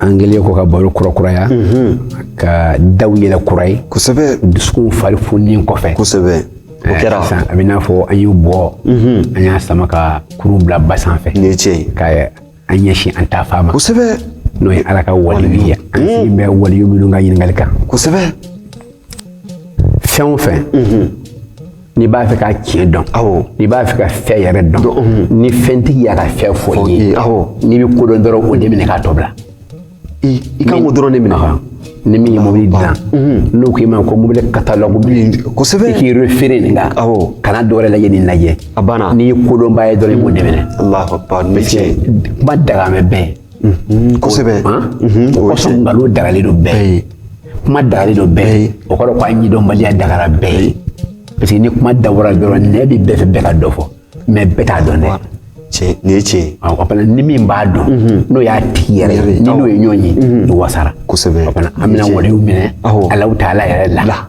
an kɛlen kɔ ka baro kurakuraya ka daw yɛlɛ kura ye kosɛbɛ dusukunw fari fununen kɔfɛ kosɛbɛ o eh, kɛra sisan a b'i n'a fɔ an y'u bɔ an y'a sama ka kurun bila ba sanfɛ nin ye tiɲɛ ye ka an ɲɛsin an taa fan ma kosɛbɛ n'o ye ala ka waliyu ye an sigilen bɛ waliyu minnu ka ɲininkali kan kosɛbɛ fɛn o fɛn n'i b'a fɛ ka tiɲɛ dɔn n'i b'a fɛ ka fɛn yɛrɛ dɔn ni fɛntigi y'a ka fɛn fɔ i ye n'i bɛ kodɔn dɔrɔn o de minɛ k'a tɔ bila i kan k'o dɔrɔn de minɛ kan ni min ye mobili dilan n'o k'i ma ko mobili katalogu kosɛbɛ i k'i refere nin kan kana dɔwɛrɛ lajɛ nin lajɛ a banna n'i ye kodɔnba ye dɔrɔn i b'o de minɛ kuma dagamɛ bɛɛ kosɛbɛ kɔsɔn nkalon dagalen don bɛɛ ye kuma dagalen don bɛɛ ye o kɔrɔ ko a ɲɛdɔnbaliya dagara bɛɛ ye parce que ni kuma dabɔra dɔrɔn nɛn bɛ bɛɛ fɛ bɛɛ ka dɔ fɔ mɛ bɛɛ t'a dɔn dɛ tiɲɛ nin ye tiɲɛ ye o fana ni min b'a dɔn n'o y'a tigi yɛrɛ ye n'i n'o ye ɲɔgɔn ye i wasara kosɛbɛ o fana an bɛna o de minɛ alahu taala yɛrɛ la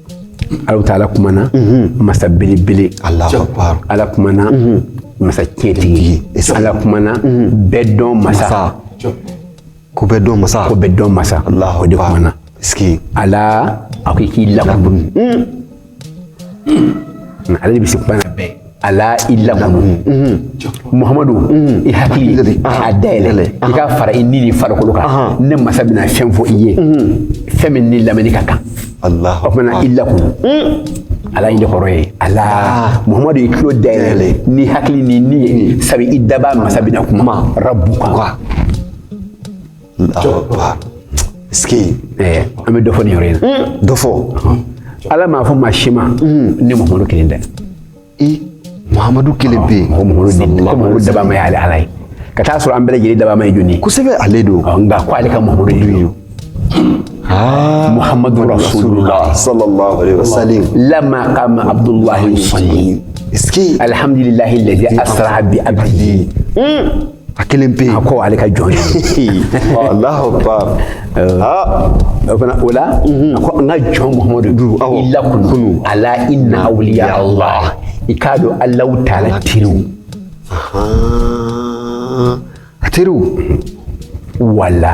Alahu taala kumana masa belebele, Alahu akbar, Ala kumana masa tiɲɛtigi, Ala kumana bɛɛ dɔn masa, ko bɛɛ dɔn masa, ko bɛɛ dɔn masa, Alahu akbar, Ala a ko i k'i lakunu, ala de bɛ se kuma na bɛɛ ala i lakunu muhamadu i hakili a dayɛlɛ i ka fara i ni ni farikolo kan ne masa bɛna fɛn fɔ i ye fɛn min ni lamɛnni ka kan o fana i lakunu ala in de kɔrɔ ye ala muhamadu i tulo dayɛlɛ ni hakili ni ni ye sabu i daba masa bɛna kuma rabuka An bɛ dɔ fɔ yɔrɔ in dɔ fɔ ala m'a fɔ maa si ma ni muhamadu kelen tɛ muhamadu kelen pe daba ye ala ala ye ka t'a sɔrɔ an bɛɛ lajɛlen daba ye jɔn kosɛbɛ ale don nka ko ale ka muhamadu ye muhamadu lamaduduyi alihamdulilayi lazi asara bi a a kelen pe a ko ale ka jɔn o la mhm. a ko n ka jɔn muhamadu i lakunu ala inna awuliya allah i k'a dɔn alahu taala teriw a teriw wala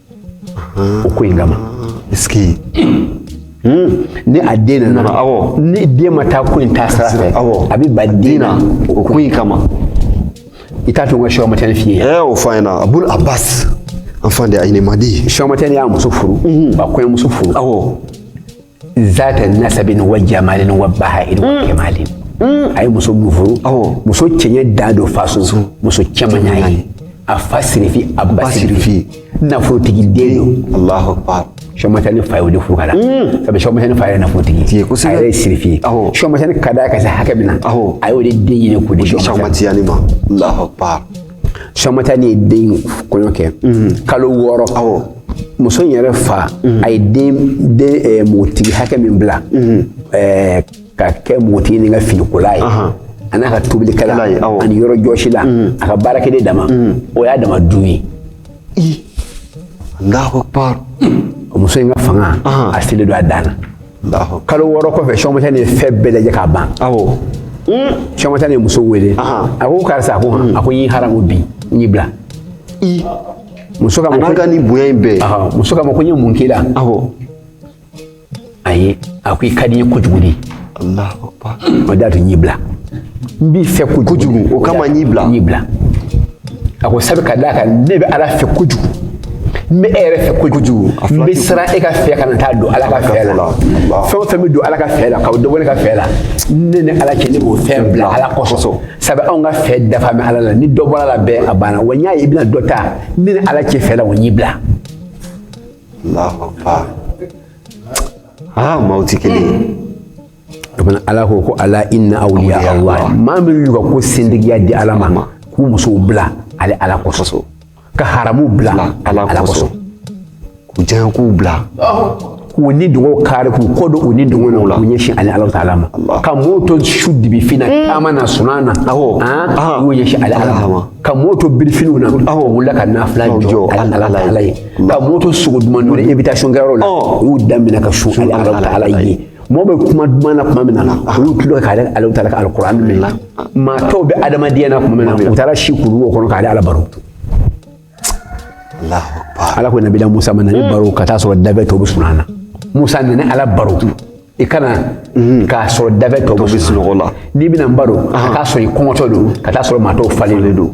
o ko in kama sigi hmm. ni a den nana ni den ma taa ko in taa sira fɛ a bɛ ban a den na o ko in kama i t'a to n ka sɛku amadu tijani f'i ye. ɛɛ o fɔ an ɲɛna abul abbas enfant de Aïn Madi. sɛku amadu tijani y'a muso furu. a kɔɲɔmuso furu. awɔ. zata nasabin wa jamalin wa baha'in wa mm. kamalin mm. a ye muso min furu muso cɛɲɛ dan don faso muso cɛman y'a ye a fa sirifi a ba sirifi nafolotigi den don alahu akbar sɔmatani fa ye o de furu k'a la mm. sabu sɔmatani fa yɛrɛ nafolotigi a yɛrɛ ye sirifi ye sɔmatani ka d'a ka se hakɛ min na a y'o de den ɲini k'o di sɔmatani ma alahu akbar sɔmatani ye den kɔɲɔ kɛ kalo wɔɔrɔ awɔ muso in yɛrɛ fa a ye den den eh, npogotigi hakɛ min bila eh, ka kɛ npogotigi nin ka finikola ye Ahan. a n'a ka tobilikɛla kɛla ye, awɔ. ani yɔrɔ jɔsila a ka baarakɛden dama o y'a dama du ye i alahu akbar o muso in ka fanga Ahan. a selen don a dan na kalo wɔɔrɔ kɔfɛ sɔmatani fɛn bɛɛ lajɛ k'a ban sɔmatani muso wele a ko karisa a ko a ko n y'i haramu bi n y'i bila muso k'a ma ko ni bonya in bɛɛ muso k'a ma ko n ye mun k'i la ayi a ko i ka di n ye kojugu de o de y'a to n y'i bila n b'i fɛ kojugu o kama n y'i bila n y'i bila a ko sabu ka d'a kan ne bɛ ala fɛ kojugu n bɛ e yɛrɛ fɛ kojugu n bɛ siran e ka fɛ kana taa don ala ka fɛ la fɛn o fɛn bɛ don ala ka fɛ la ka dɔ bɔ ne ka fɛ la ne ni ala cɛ ne b'o fɛn bila ala kosɔn sabu anw ka fɛ dafa bɛ ala la ni dɔ bɔra a la bɛɛ a banna wa n y'a ye i bɛna dɔ ta ne ni ala cɛ fɛ la wa n y'i bila aa maaw tɛ kelen ye o fana ala ko ko ala inna awliya ala maa min y'u ka ko setigiya di ala ma k'u musow bila ale ala kosɔn ka haramu bila ala kosɔn k'u diɲɛ ko bila k'u nidɔgɔ kari k'u kɔ don u nidɔgɔ na k'u ɲɛsin ale ala taala ma ka mɔɔw to su dibi fin na mm. taama na sunan na awɔ k'u ɲɛsin ale ala ma ka mɔɔw to birifiniw na awɔ u wulila ka nafila jɔ ale ala taala ye ka mɔɔw to sogo duman dun invitation kɛyɔrɔ la u y'u da minɛ ka sun ale ala taala ye mɔgɔ bɛ kuma duman na tuma min na olu tulo ka ale ala taala ka alikuran mɛn na maa tɔw bɛ adamadenya na tuma min na u taara si kuruwo kɔnɔ k'ale ala baro ala ko nabila musa ma na ne baro ka taa sɔrɔ danfɛn tɔw bɛ sunan na musa na ne ala baro i ka na mm. k'a sɔrɔ danfɛn tɔw bɛ sunɔgɔ la n'i bɛna n baro k'a sɔrɔ i kɔngɔtɔ don ka taa sɔrɔ maa tɔw falenlen don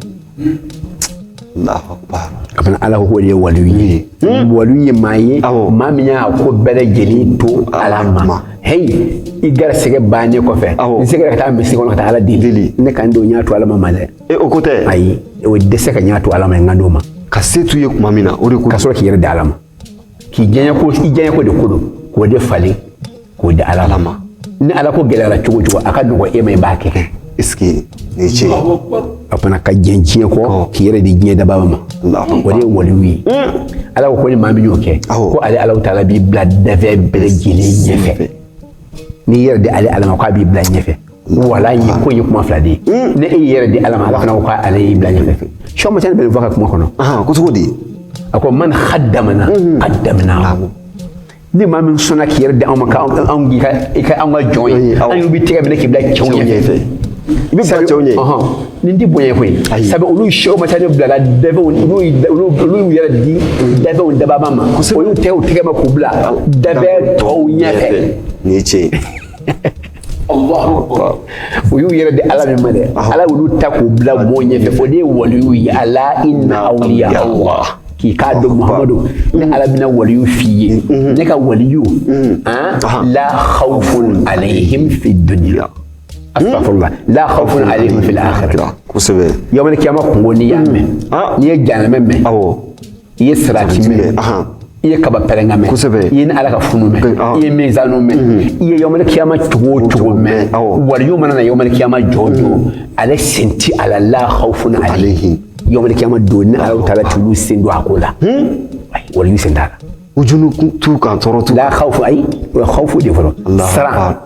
kabini ala k'o de ye waliyu ye hmm? waliyu ye maa ye maa min y'a ko bɛɛ lajɛlen to ala ma heyi i garisɛgɛ bannen kɔfɛ n sera ka taa misiri kɔnɔ ka taa ala deli ne kan don n y'a to ala ma ma dɛ e, o ko tɛ ayi o dɛsɛ ka n y'a to ala ma n kan t'o ma ka se t'u ye tuma min na o de ko ka sɔrɔ k'i yɛrɛ di ala ma k'i diɲɛ ko i diɲɛ ko de ko don k'o de falen k'o di ala ma ni ala ko gɛlɛyara cogo o cogo a ka nɔgɔ e ma i b'a kɛ est-ce que ni ce a fana ka ɲinɛ diɲɛ kɔ k'i yɛrɛ di diɲɛ dabaa ma o de ye waliyu ye ala ko ko ni maa min y'o kɛ ko ale ala taala b'i bila danfɛn bɛɛ lajɛlen ɲɛfɛ n'i yɛrɛ di ale ala ma k'a b'i bila ɲɛfɛ waliyu ko ye kuma fila de ye n'i y'i yɛrɛ di ala ma ala fana ko k'ale y'i bila ɲɛfɛ sɔ ma sɛnɛ bɛ nin fɔ ka kuma kɔnɔ ko cogo di a ko man khadamana qaddamna ni maa min sɔnna k'i yɛrɛ di anw ma ka anw k'i ka i kɛ anw ka jɔn ye anw b'i tɛgɛ minɛ k'i bila cɛw ɲɛfɛ i bɛ bila cɛw ɲɛ nin tɛ bonya koyi sabu olu sɛw ma taa ne bilala danfɛnw olu y'u yɛrɛ di danfɛnw dabaa ma o y'u tɛgɛ minɛ k'u bila danfɛn tɔw ɲɛfɛ nin ye tiɲɛ ye u y'u yɛrɛ di ala min ma dɛ ala y'olu ta k'u bila mɔgɔw ɲɛfɛ o de ye waliyuw ye ala inna awliya allah k'i k'a dɔn muhamadu ne ala bɛna waliyu f'i ye mm-hmm. ne ka waliyu mm-hmm. ah, la khawfun alayhim fi dunya astaghfirullah la khawfun alayhim fil akhirah kosɛbɛ yawmal kiyama kunko n'i y'a mɛn n'i ye jahanamɛ mɛn awɔ i ye sirati mɛn i ye kaba pɛrɛnkan mɛn i ye ne ala ka funu mɛn i ye mizanu mɛn i ye yɔmɛli kiyama cogo o cogo mɛn waliyu mana na yɔmɛli kiyama jɔ o jɔ ale sen ti a la la khawfun alayhim yɔmɛli kiyama don ne ala taala t'olu sen don a ko la waliyu sen t'a la huzunu t'u kan tɔɔrɔ t'u la khawfu ayi o ye khawfu de fɔlɔ siran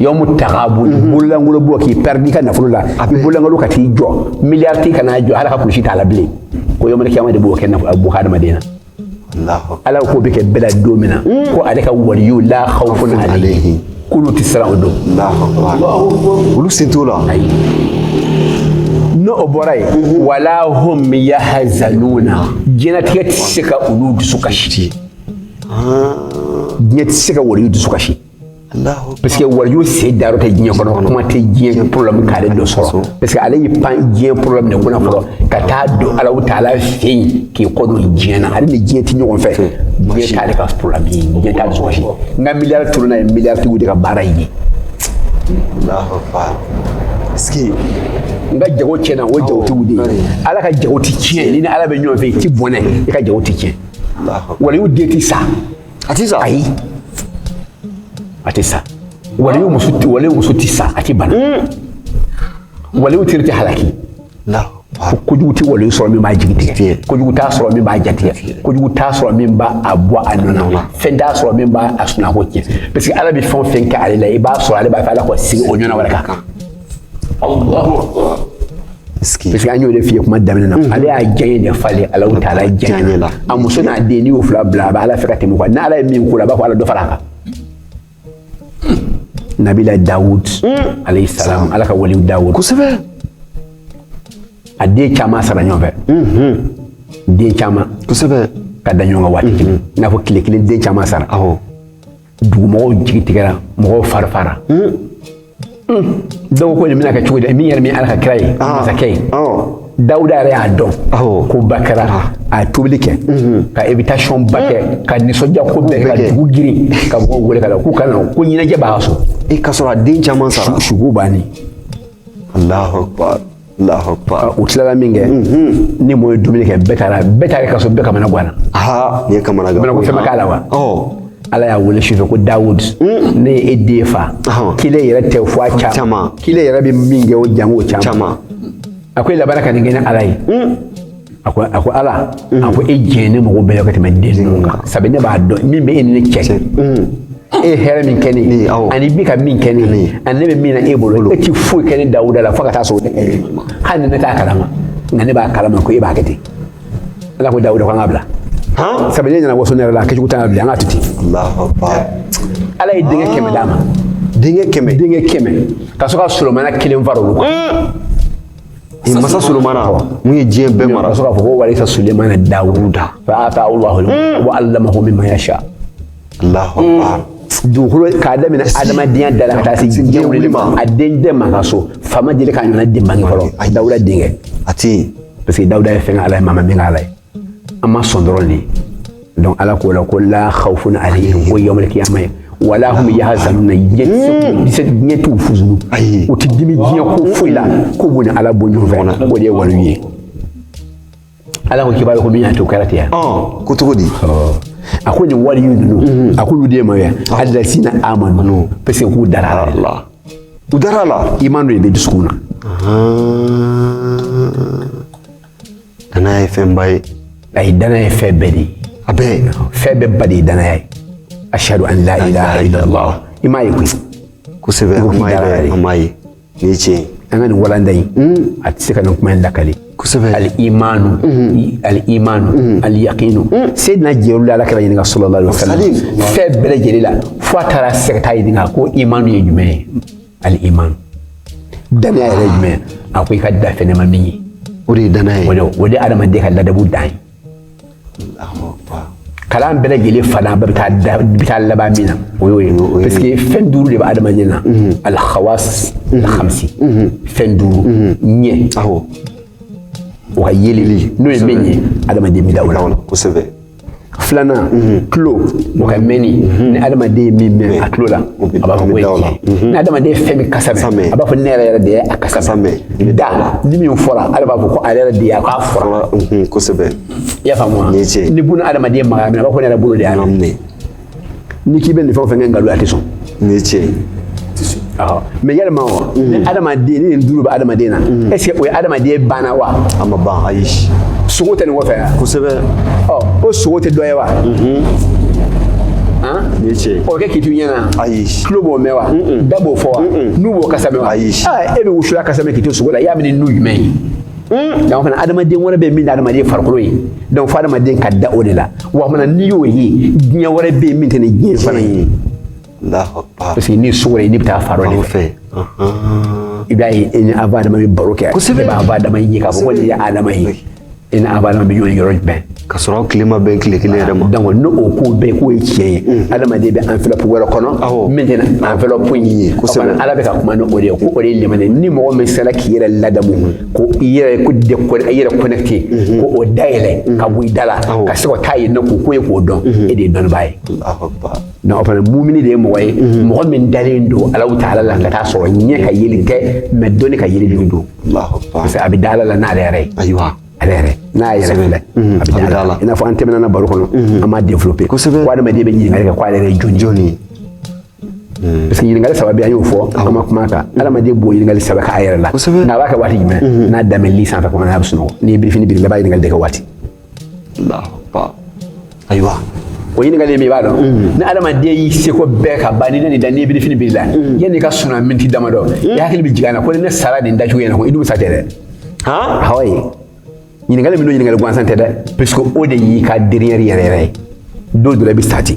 yɔmu tagabuni mhm. bololankolon bɔ k'i pɛridi ka nafolo la i bololankolon ka t'i jɔ miliyari tigi ka na jɔ hali kulusi t'a la bilen ko yɔmɛli kiyama de b'o kɛ bɔ hadamaden na ala k'o bɛ kɛ bɛɛ la don min na mm. ko ale ka waliyu la khawfun alayhim k'olu tɛ siran o don olu sen t'o la n'o bɔra yen mhm. wala hum yahzanuna diɲɛnatigɛ tɛ se ka olu dusu kasi diɲɛ tɛ se ka waliyu dusu kasi parce que waliyu sen da yɔrɔ tɛ diɲɛ kɔnɔ kuma tɛ diɲɛ problème k'ale dɔ sɔrɔ parce que ale y'i pan diɲɛ problème de kunna fɔlɔ ka taa don ala taala fɛ yen k'i kɔ don diɲɛ na ale ni diɲɛ tɛ ɲɔgɔn fɛ diɲɛ t'ale ka problème ye diɲɛ t'a dusu kasi n ka miliyari tununna o ye miliyari tigiw de ka baara ye n ka jago tiɲɛna o ye jagotigiw de ye ala ka jago tɛ tiɲɛ n'i ni ala bɛ ɲɔgɔn fɛ i tɛ bɔnɛ i ka jago tɛ tiɲɛ waliyu den ti sa a ti sa ayi a ti sa waliyu muso waliyu muso ti sa a ti bana hmm. waliyu teri ti halaki ko kojugu tɛ waliyu sɔrɔ min b'a jigi tigɛ kojugu t'a sɔrɔ min b'a jatigɛ kojugu t'a sɔrɔ min b'a a bɔ a nɔ na fɛn t'a sɔrɔ min b'a a sunɔgɔ tiɲɛ parce que ala bɛ fɛn o fɛn kɛ ale la i b'a sɔrɔ ale b'a fɛ ala ka sigi o ɲɔgɔn wɛrɛ ka kan Allahu akbar parce que an y'o de f'i ye kuma daminɛ na ale y'a diyaɲe de falen Ala taala diyaɲe la a muso n'a den n'i y'o fila bila a bɛ Ala fɛ ka tɛmɛ o kan n'Ala ye min k'o la a b'a fɔ Ala dɔ fara a kan nabila Dawud alayhi salam Ala ka waliw Dawud kosɛbɛ a den caman sara ɲɔgɔn fɛ den caman kosɛbɛ ka da ɲɔgɔn kan waati kelen i n'a fɔ tile kelen den caman sara awɔ dugumɔgɔw jigi tigɛra mɔgɔw farifara hmm. hmm. dɔw ko nin bɛna kɛ cogo di min yɛrɛ min ala ka kira ye ah. masakɛ ye dawuda yɛrɛ y'a dɔn koba kɛra ah. a ye tobili kɛ hmm. ka invitation ba kɛ ka nisɔndiya ko bɛɛ ka dugu girin ka mɔgɔw wele ka na k'u ka na ko ɲɛnajɛ b'a ka so ka sɔrɔ a den caman sara suko bannen alahu akbar u tilala min kɛ ni mɔgɔ ye dumuni kɛ bɛɛ taara bɛɛ taara ka sɔrɔ bɛɛ kamanaganna nin ye kamanaganko fɛn ma k'a la wa ala y'a wele sufɛ ko dawud ne ye e den fa kelen yɛrɛ tɛ fo a caman kelen yɛrɛ bɛ min kɛ o jango caman a ko e labanna ka nin kɛ ne ala ye a ko a ko ala a ko e diyaɲe ne mago bɛɛ ka tɛmɛ den ninnu kan sabu ne b'a dɔn min bɛ e ni ne cɛ e ye hɛrɛ min kɛ ne ye ani bi ka min kɛ ne ye ani ne bɛ min na e bolo e ti foyi kɛ ne dawuda la fo ka taa sɔrɔ ne kɛ hali ni ne t'a kalama nka ne b'a kalama ko e b'a kɛ ten ala ko dawuda ko an k'a bila sabu ne nana waso ne yɛrɛ la a kɛcogo t'a la bilen an k'a to ten ala ye denkɛ kɛmɛ d'a ma denkɛ kɛmɛ denkɛ kɛmɛ ka sɔrɔ ka solomana kelen fara olu kan masa solomana min ye diɲɛ bɛɛ mara sɔrɔ k'a fɔ ko warisa sulemana dawuda fa atahu allahu wa allamahu mimma yasha allahu akbar dugukolo k'a daminɛ adamadenya da la ka taa se diɲɛ wulili ma a den bɛɛ man ka so fa ma deli k'a ɲɔgɔnna den bange fɔlɔ dawuda denkɛ a tɛ yen parce que dawuda ye fɛn k'ala ye maa ma min k'ala ye an ma sɔn dɔrɔn de donc ala k'o la ko la khawfun alayhim ko yawmal qiyamah ye wala hum yahzanuna diɲɛ t'u huzunu u tɛ dimi diɲɛ ko foyi la k'o b'u ni ala bɔ ɲɔgɔn fɛ o de ye waliw ye ala ko k'i b'a ye ko min y'a to o kɛra ten yan ko cogo di a ko nin waliyu ninnu a k'olu de ye maa ye alazina amanu parce que k'u dara a la u dara a la iman dɔ de bɛ dusukun na Danaya ye fɛnba ye. Ayi danaya ye fɛn bɛɛ de ye. A bɛɛ. Fɛn bɛɛ ba de ye danaya ye. Ashadu an la ilaha illallah. I m'a ye koyi. Kosɛbɛ an m'a ye an m'a ye. Nin ye tiɲɛ ye. An ka nin walanda in. A tɛ se ka nin kuma in lakale. Kosɛbɛ. Al imaanu. Al imaanu. Al yakiinu. Seyidina Jibril ye Ala kira ɲininka salala wa salama. Fɛn bɛɛ lajɛlen la fo a taara se ka taa ɲininka ko imaanu ye jumɛn ye. al-iman danaya yɛrɛ jumɛn a ko i ka da fɛn na i ma min ye o de ye danaya ye o de ye adamaden ka ladabu dan ye kalan bɛɛ lajɛlen fana bɛɛ bɛ taa laban min na o y'o ye parce que fɛn duuru de bɛ adamaden na alhawas alhamsi fɛn duuru ɲɛ o ka yeli n'o ye min ye adamaden bɛ da o la kosɛbɛ filanan tulo mhm. o ka mɛnni mhm. ni adamaden ye min mɛn a tulo la a b'a fɔ k'o ye tiɲɛ ni adamaden ye fɛn min kasa mɛn a b'a fɔ ne yɛrɛ yɛrɛ de ye a kasa mɛn da ni min fɔra ale b'a fɔ ko ale yɛrɛ de ye a k'a fɔra kosɛbɛ i y'a faamu wa ni buna adamaden magara min na a b'a fɔ ne yɛrɛ bolo de y'a minɛ n'i k'i bɛ nin fɛn o fɛn kɛ nkalon a tɛ sɔn nin ye tiɲɛ ye mais yalima o ni adamaden ni nin duuru bɛ adamaden na mm. est ce que o ye adamaden banna wa a ma ban ayi sogo tɛ nin kɔfɛ yan kosɛbɛ ɔ o sogo tɛ dɔ ye wa mm-hmm. nin ye tiɲɛ ye o kɛ k'i to ɲɛna ayi tulo b'o mɛn wa da b'o fɔ wa nu b'o kasa mɛn wa ayi e bɛ wusulan kasa mɛn k'i to sogo la i y'a mɛn ni nu jumɛn ye Hmm? donc fana adamaden wɛrɛ bɛ min tɛ adamaden farikolo ye donc fo adamaden ka da o de la wa fana n'i y'o ye diɲɛ wɛrɛ bɛ yen min tɛ nin diɲɛ fana ye parce que n'i sogora i n'i bɛ taa fan dɔ de fɛ i b'a ye i ni aba adama bɛ baro kɛ kosɛbɛ i bɛ aba adama ye k'a fɔ ko nin ye adama ye i ni aba adama bɛ ɲɔgɔn yɔrɔ jumɛn ka sɔrɔ tile ma bɛn tile kelen yɛrɛ ma donc n'o o ko bɛɛ k'o ye tiɲɛ ye adamaden bɛ enveloppe wɛrɛ kɔnɔ min tɛ enveloppe in ye kosɛbɛ ala bɛ ka kuma ni o de ye ko o de ye limaniya ni mɔgɔ min sera k'i yɛrɛ ladamu ko i yɛrɛ ko de i yɛrɛ connecté ka o da yɛlɛ ka bɔ i da la ka se ka taa yen nɔ k'o ko ye k'o dɔn e de ye dɔnnibaa ye donc o fana mumini de ye mɔgɔ ye mɔgɔ min dalen don alahu taala la ka t'a sɔrɔ ɲɛ ka yeli tɛ mais dɔnni ka yeli don parce que a bɛ da ala la n'ale yɛrɛ ye ayiwa ale yɛrɛ n'a y'a yɛrɛ filɛ a bɛ d'a la i n'a fɔ an tɛmɛna baro kɔnɔ an m'a développé kosɛbɛ ko adamaden bɛ ɲininkali kɛ ko ale yɛrɛ ye jɔni jɔni ye parce que ɲininkali saba bɛ an y'o fɔ an ma kuma a kan adamaden b'o ɲininkali saba k'a yɛrɛ la kosɛbɛ nka a b'a kɛ waati jumɛn n'a dalen bɛ lit sanfɛ kɔnɔ n'a bɛ sunɔgɔ n'i ye birifini biri i la i b'a ɲininkali de kɛ waati ayiwa o ɲininkali min i b'a dɔn mm. ni adamaden y'i seko bɛɛ ka ban n'i nan'i da n'i ye birifini biri i la mm. yanni i ka suna miniti damadɔ mm. i hakili bɛ jigin a na ko ni ne sara nin dacogo in na ko i dun sa tɛ dɛ awɔ ye ɲininkali min don ɲininkali gansan tɛ dɛ puisque o de y'i ka dernière yɛrɛ yɛrɛ ye don dɔ la i bɛ sa ten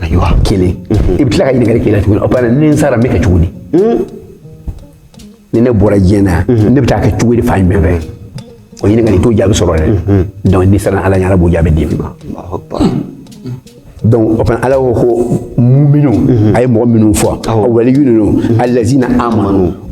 ayiwa kelen i bɛ tila ka ɲininkali kelen tuguni o bana ni n sara n bɛ kɛ cogo di ni ne bɔra diɲɛ na ne bɛ taa kɛ cogo di fan jumɛn fɛ o ɲininkali i t'o jaabi sɔrɔ dɛ donc n'i siranna ala ɲɛ ala b'o jaabi d'i ma donc o fana ala ko ko muminu a ye mɔgɔ minnu fɔ a waliyu ninnu alazina amanu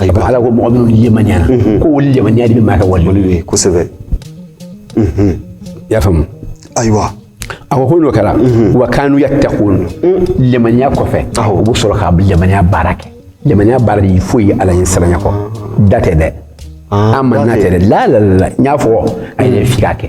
ayiwa ala ko mɔgɔ minnu lemaniyana mhm. ko olu lemaniya de bɛ maa kɛ wali wali ye kosɛbɛ i mhm. y'a faamu ayiwa a ko ko n'o kɛra mhm. wa kanu yattaqun lemaniya kɔfɛ u bɛ sɔrɔ ka lemaniya baara kɛ lemaniya baara tɛ foyi ye ala ɲɛsiranya kɔ da tɛ dɛ ah, amanna tɛ dɛ la la la n y'a fɔ a yɛrɛ fi k'a kɛ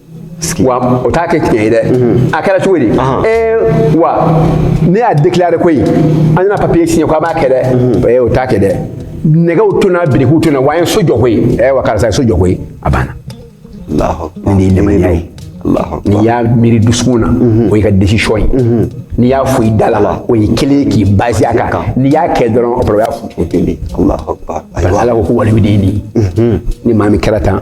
wa o t'a kɛ tiɲɛ ye dɛ mhm. a kɛra cogo di ee wa ne y'a déclaré koyi an nana papier signé ko an b'a kɛ dɛ mhm. ee o t'a kɛ dɛ nɛgɛw tonna birikiw tonna wa an ye so jɔ koyi ee wa karisa ye so jɔ koyi a banna nin de ye limaniya ye n'i y'a miiri dusukun na mhm. o y'i ka décision ye n'i y'a fɔ i da la o ye kelen ye k'i basé a kan n'i y'a kɛ dɔrɔn o y'a fɔ o kelen ala ko ko waliyu de ye nin ye maa min kɛra tan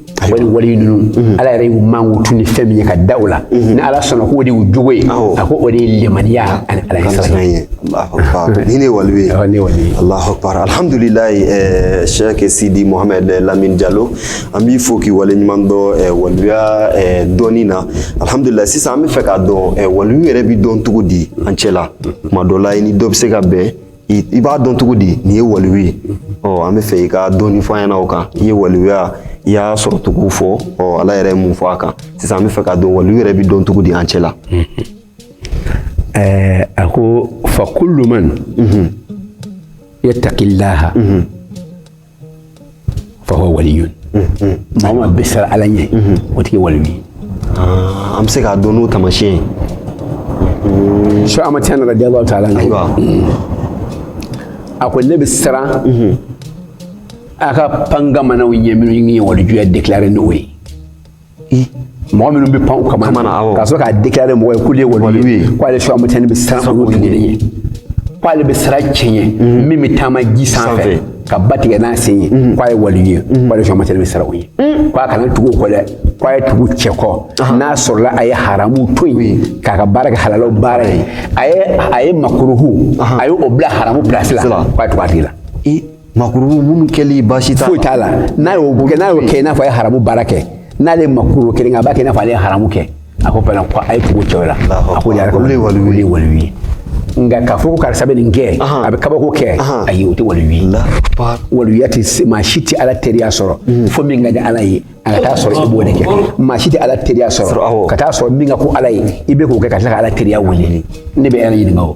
wali wali ninnu mhm. ala yɛrɛ y'u mankutu ni fɛn min ye ka da o la mhm. ni ala sɔnna k'o de y'u jogo ye a ko o de ye lemaniya ani ala ɲɛsiran ye ni ne wali ye ne wali ye alahu akbar alhamdulilayi eh, sɛke sidi mohamɛd eh, lamine jalo an b'i fo k'i wale ɲuman dɔn eh, waliya dɔnni na alhamdulilayi sisan an b'a fɛ k'a dɔn waliyu yɛrɛ bɛ dɔn cogo di an cɛla tuma dɔ la i ni dɔ bɛ se ka bɛn i b'a dɔn cogo di nin ye waliyu ye ɔ an b'a fɛ i ka dɔɔni fɔ an ɲɛna o kan i ye waliyuya i y'a sɔrɔ cogo fɔ ɔ ala yɛrɛ ye mun fɔ a kan sisan an b'a fɛ k'a dɔn waliyu yɛrɛ bɛ dɔn cogo di an cɛ la ɛɛ a ko fa kullu man yattaqillaha fa huwa waliyun maa o maa bɛ siran ala ɲɛ o tigi ye waliyu ye Ah, an bɛ se k'a dɔn n'o taamasiyɛn ye sɛke ahmad tijani radiyallahu ta'ala anhu ayiwa a ko ne bɛ siran a ka pangamanaw ɲɛ minnu ye walijuya déclaré n'o ye mɔgɔ minnu bɛ pan u kaman na ka sɔrɔ k'a déclaré mɔgɔ ye k'olu ye waliyu ye k'ale sɛke ahmad tijani bɛ siran olu tigi de ɲɛ k'ale bɛ siran cɛ ɲɛ mhm. min bɛ taama ji sanfɛ ka ba tigɛ n'a sen ye mhm. k'a ye waliyu ye mhm. k'ale sɛke ahmad tijani bɛ siran o ɲɛ k'a kana tugu o kɔ dɛ k'a ye tugu cɛ kɔ n'a sɔrɔla a ye haramu to yen k'a ka baara kɛ halalaw baara ye a ye a ye makuruhu a ye o bila haramu pilasi la k'a ye tugu a tigi la makuru minnu kɛli baasi t'a la foyi t'a la n'a y'o kɛ n'a y'o kɛ i n'a fɔ a ye haramu baara kɛ n'ale ye makuru kelen kɛ a b'a kɛ i n'a fɔ ale ye haramu kɛ a ko fana ko a ye tugu cɛw la a ko yɛrɛ olu ye waliyu ye waliyu ye nka k'a fɔ ko karisa bɛ nin kɛ a bɛ kabako kɛ ayi o tɛ waliyu ye waliya tɛ maa si tɛ ala teriya sɔrɔ mm. fo min ka di ala ye a ka taa sɔrɔ i b'o de kɛ maa si tɛ ala teriya sɔrɔ ka taa sɔrɔ min ka go ala ye i bɛ k'o kɛ ka tila ka ala teriya wele ne bɛ ala ɲininka o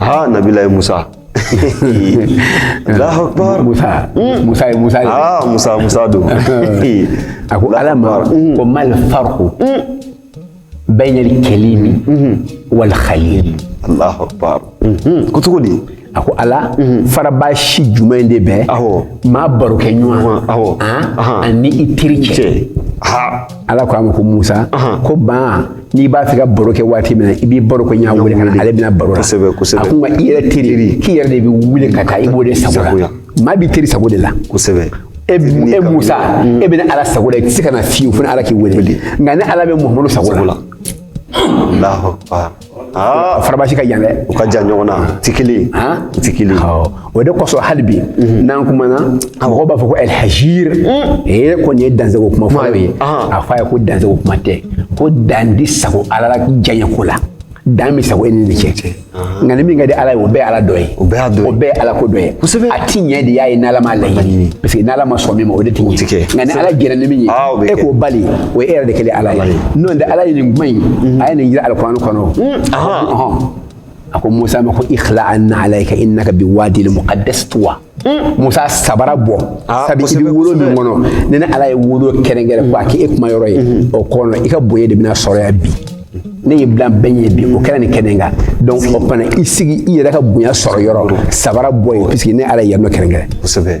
ha nabilahi musa Allahu akbar musa hmm. musa musa ha musa musa don a ko ala ma hmm. ko mal farqu hmm. bayna al kalimi wal khalil Allahu akbar ko cogo di a ko ala faranfasi jumɛn de bɛ maa barokɛɲɔgɔn ani i teri cɛ ala ko a ma ko musa ko ban n'i b'a fɛ ka baro kɛ waati min na i b'i barokɛɲɔgɔn wele ka na ale bɛna baro la kosɛbɛ kosɛbɛ a ko nka i yɛrɛ teri k'i yɛrɛ de bɛ wuli ka taa i b'o de sago la maa b'i teri sago de la kosɛbɛ e, e musa mm. e bɛ ne ala sago la i tɛ se ka na fiyewu fo ne ala k'i wele nka ne ala bɛ muhamadu sago la faranfasi ka jan dɛ u ka jan ɲɔgɔn na u tɛ kelen ye u tɛ kelen ye o de kosɔn hali bi n'an kumana mɔgɔw b'a fɔ ko alhaji ee ko nin ye dansago kuma fɔlen ye a fɔ a ye ko dansago kuma tɛ ko dan ti sago ala la diyanye ko la dan bɛ sago e ni ne cɛ nka ni min ka di ala ye o bɛɛ ye ala dɔ ye o bɛɛ dɔ ye o bɛɛ ye ala ko dɔ ye kosɛbɛ a ti ɲɛ de y'a ye n'ala m'a laɲini parce que n'ala ma sɔn min ma o de ti ɲɛ nka ni ala jɛra ni min ye e k'o bali o ye e yɛrɛ de kɛlen ala ye n'o tɛ ala ye nin kuma in a ye nin jira alikuranɛ kɔnɔ a ko musa ma ko ikhla na'layka innaka bi wadil muqaddas tuwa musa sabara bɔ Ah, sabi i kosɛbɛ, bɛ wolo min kosɛbɛ. kɔnɔ nin ne ala ye wolo kɛrɛnkɛrɛn k'a kɛ kuma yɔrɔ ye o kɔnɔ i ka bonya de bɛna sɔrɔ yan bi ne y'i bila bɛɛ ɲɛ bi o kɛra nin kɛnɛ kan donc o fana i sigi i yɛrɛ ka bonya sɔrɔ yɔrɔ sabara bɔ yen puisque ne ala ye yan nɔ kɛrɛnkɛrɛn kosɛbɛ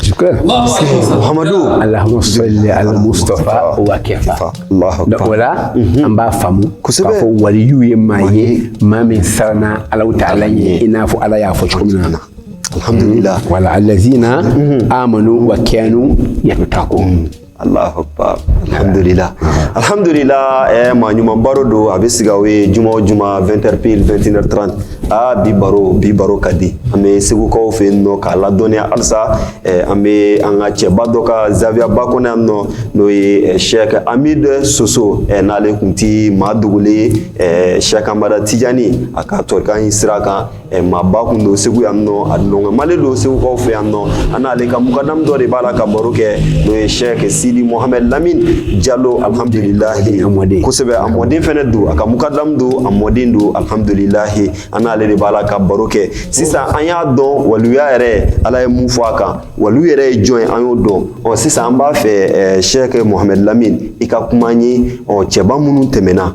Shukran. Allahumma salli alal Mustafa wa kafa o la an b'a faamu k'a fɔ waliyu ye maa ye maa min siranna Alahu taala ɲɛ i n'a fɔ Ala y'a fɔ cogo min na alhamdulillah wala allazina amanu wa kanu yattaqun Alahu akbar alhamdulila alhamdulila eh, maa ɲuman baro don a bɛ sigi aw ye juma o juma 20h pile 21h30 aa bi baro bi baro ka di an bɛ segukaw fɛ yen nɔ k'a ladɔnniya halisa eh, an bɛ an ka cɛba dɔ ka zawiyaba kɔnɔ yan nɔ n'o ye eh, Sheikh Amid Soso eh, n'ale kun ti maa dogolen ye eh, Sheikh Amada Tijani a ka tɔrika in sira kan maaba kun don segu yan nɔ a nɔgɔmalen don segukaw fɛ yan nɔ an n'ale ka mukadamu dɔ de b'a la ka baro kɛ n'o ye sɛkɛ sidi mohamɛd lamin jalo alhamdulilahi kosɛbɛ a mɔden fɛnɛ don a ka mukadamu don a mɔden don alhamdulilahi an n'ale de b'a la ka baro kɛ sisan an y'a dɔn waliya yɛrɛ ala ye mun fɔ a kan waliw yɛrɛ ye jɔn ye an y'o dɔn ɔ sisan an b'a fɛ sɛkɛ mohamɛd lamin i ka kuma ye ɔ cɛba minnu tɛmɛna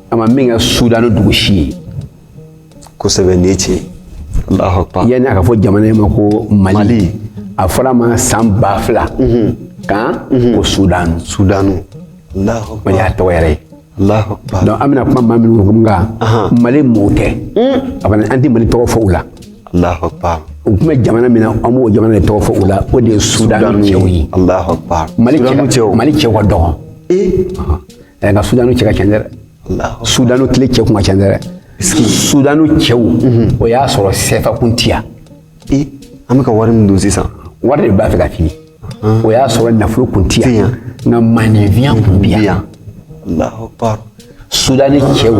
a ma min kɛ sudani dugu si ye kosɛbɛ nin ye tiɲɛ ye alahu akbar yanni a ka fɔ jamana in ma ko mali Mali. a fɔra ma san ba fila kan ko sudani sudanu alahu o de akbar y'a tɔgɔ yɛrɛ ye alahu akbar donc an bɛna kuma maa minnu kun kan mali mɔɔw tɛ a fana an tɛ mali tɔgɔ fɔ u la alahu akbar u tun bɛ jamana min na an b'o jamana de tɔgɔ fɔ u la o de ye sudani cɛw ye alahu akbar mali sudanu cɛ cɛw mali cɛw ka dɔgɔn ee ɛ nka sudanu cɛ ka ca dɛ sudanu tile cɛ kun ka ca dɛ sudanu cɛw mhm. o y'a sɔrɔ sɛfa kun ti yan an bɛ ka wari min don sisan wari de b'a fɛ ka fili o y'a sɔrɔ nafolo kun ti yan nka maaninfinya kun bi yan sudani cɛw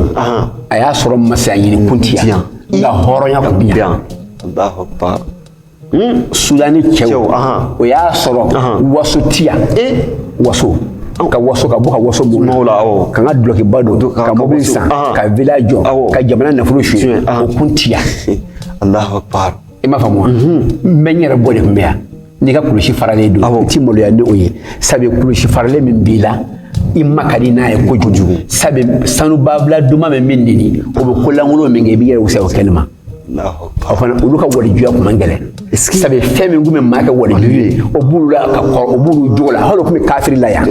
a y'a sɔrɔ masaya ɲini kun ti yan nka hɔrɔnya kun bi yan sudani cɛw o y'a sɔrɔ waso ti yan waso ka waso ka bɔ ka waso bon n'o la awɔ ka n ka dulɔkiba don ka mobili san ka villa jɔ ka jamana nafolo suɲɛ o kun ti yan alahu akbar i m'a faamu wa n bɛ n yɛrɛ bɔ de kun bɛ yan n'i ka kulusi faralen don i ti maloya ni o ye sabu kulusi faralen min b'i la i ma ka di n'a ye kojugu sabu sanubabila duman bɛ min nini o bɛ ko lankolon min kɛ i b'i yɛrɛ wusaya o kɛnɛ ma fana olu ka walijuya kun man gɛlɛn sabu fɛn min kun bɛ maa kɛ waliju ye o b'olu la ka kɔrɔ o b'olu jogo la hali o kun bɛ kafiri la yan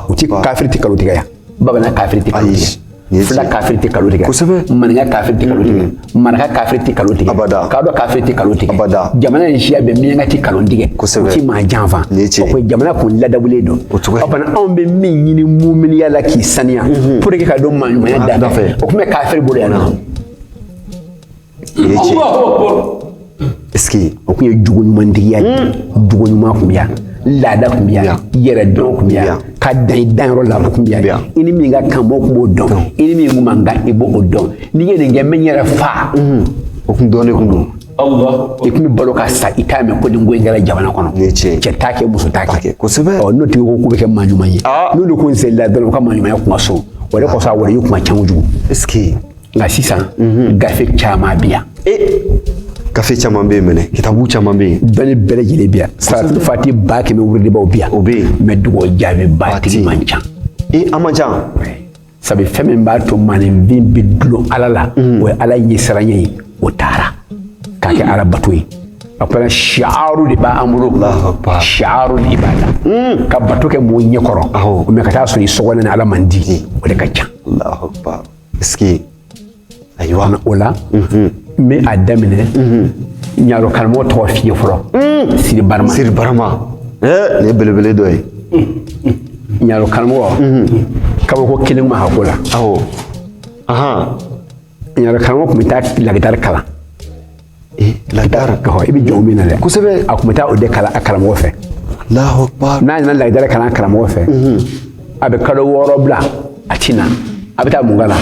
u ti kafiri ti kalo tigɛ yan bamanan kafiri ti kalo tigɛ fila kafiri tɛ kalo tigɛ kosɛbɛ maninka kafiri tɛ kalo tigɛ maraka kafiri tɛ kalo tigɛ abada kadɔ kafiri tɛ kalo tigɛ abada jamana in siya bɛɛ miyanka tɛ kalo tigɛ kosɛbɛ u ti maa janfa o ko jamana kun ladabulen don o cogo fana anw bɛ min ɲini muminiya la k'i saniya pour que ka don maaɲumanya da fɛ o kun bɛ kafiri bolo yan nɔ Est ce que o kun ye jogo ɲumantigiya ye, jogo ɲuman kun bɛ yan, laada kun bɛ yan, yɛrɛ dɔn kun bɛ yan, ka dan i danyɔrɔ la o kun bɛ yan, i ni min ka kan mɔgɔw kun b'o dɔn, i ni min man kan i b'o dɔn, n'i ye nin kɛ n bɛ n yɛrɛ faa, o kun dɔnnen kun don. i kun bɛ balo ka sa i t'a mɛn ko nin ko in kɛra jamana kɔnɔ cɛ t'a kɛ muso t'a kɛ kosɛbɛ n'o tigi ko k'u bɛ kɛ maa ɲuman ye n'olu ko n selila dɔrɔn u ka maa ɲumanya kun ka so o de kosɔn a waliyu kun ka ca kojugu nka sisan mhm. gafe caman bɛ yan e, gafe caman bɛ yen mɛnɛ kitabu caman bɛ yen dɔnni bɛɛ lajɛlen bɛ yan salatu fati ba kɛmɛ wurudibaaw bɛ yan o bɛ yen mɛ dugawu jaabiba tigi man ca e a man ca sabu fɛn min b'a to maaninfin bɛ dulon ala la mhm. o ye ala ɲɛsiranya ye o taara k'a kɛ ala bato ye a fana siyaru de b'an bolo siyaru de b'a la hmm. ka bato kɛ mɔgɔ ɲɛ kɔrɔ mɛ ka taa sɔrɔ i sɔgɔlen ni ala man di o de ka ca Sigi ayiwa o la n bɛ a daminɛ ɲaro karamɔgɔ tɔgɔ f'i ye fɔlɔ siri siri barama nin belebele dɔ ye ɲaro karamɔgɔ kabako kelen ma hako la aw ɲaro karamɔgɔ tun bɛ taa lagidara kalan Eh, lagidara ka i bɛ jɔn min na dɛ kosɛbɛ a tun bɛ taa o de kalan a karamɔgɔ fɛ n'a nana lagidara kalan karamɔgɔ fɛ mhm. a bɛ kalo wɔɔrɔ bila a ti na a bɛ taa mun kalan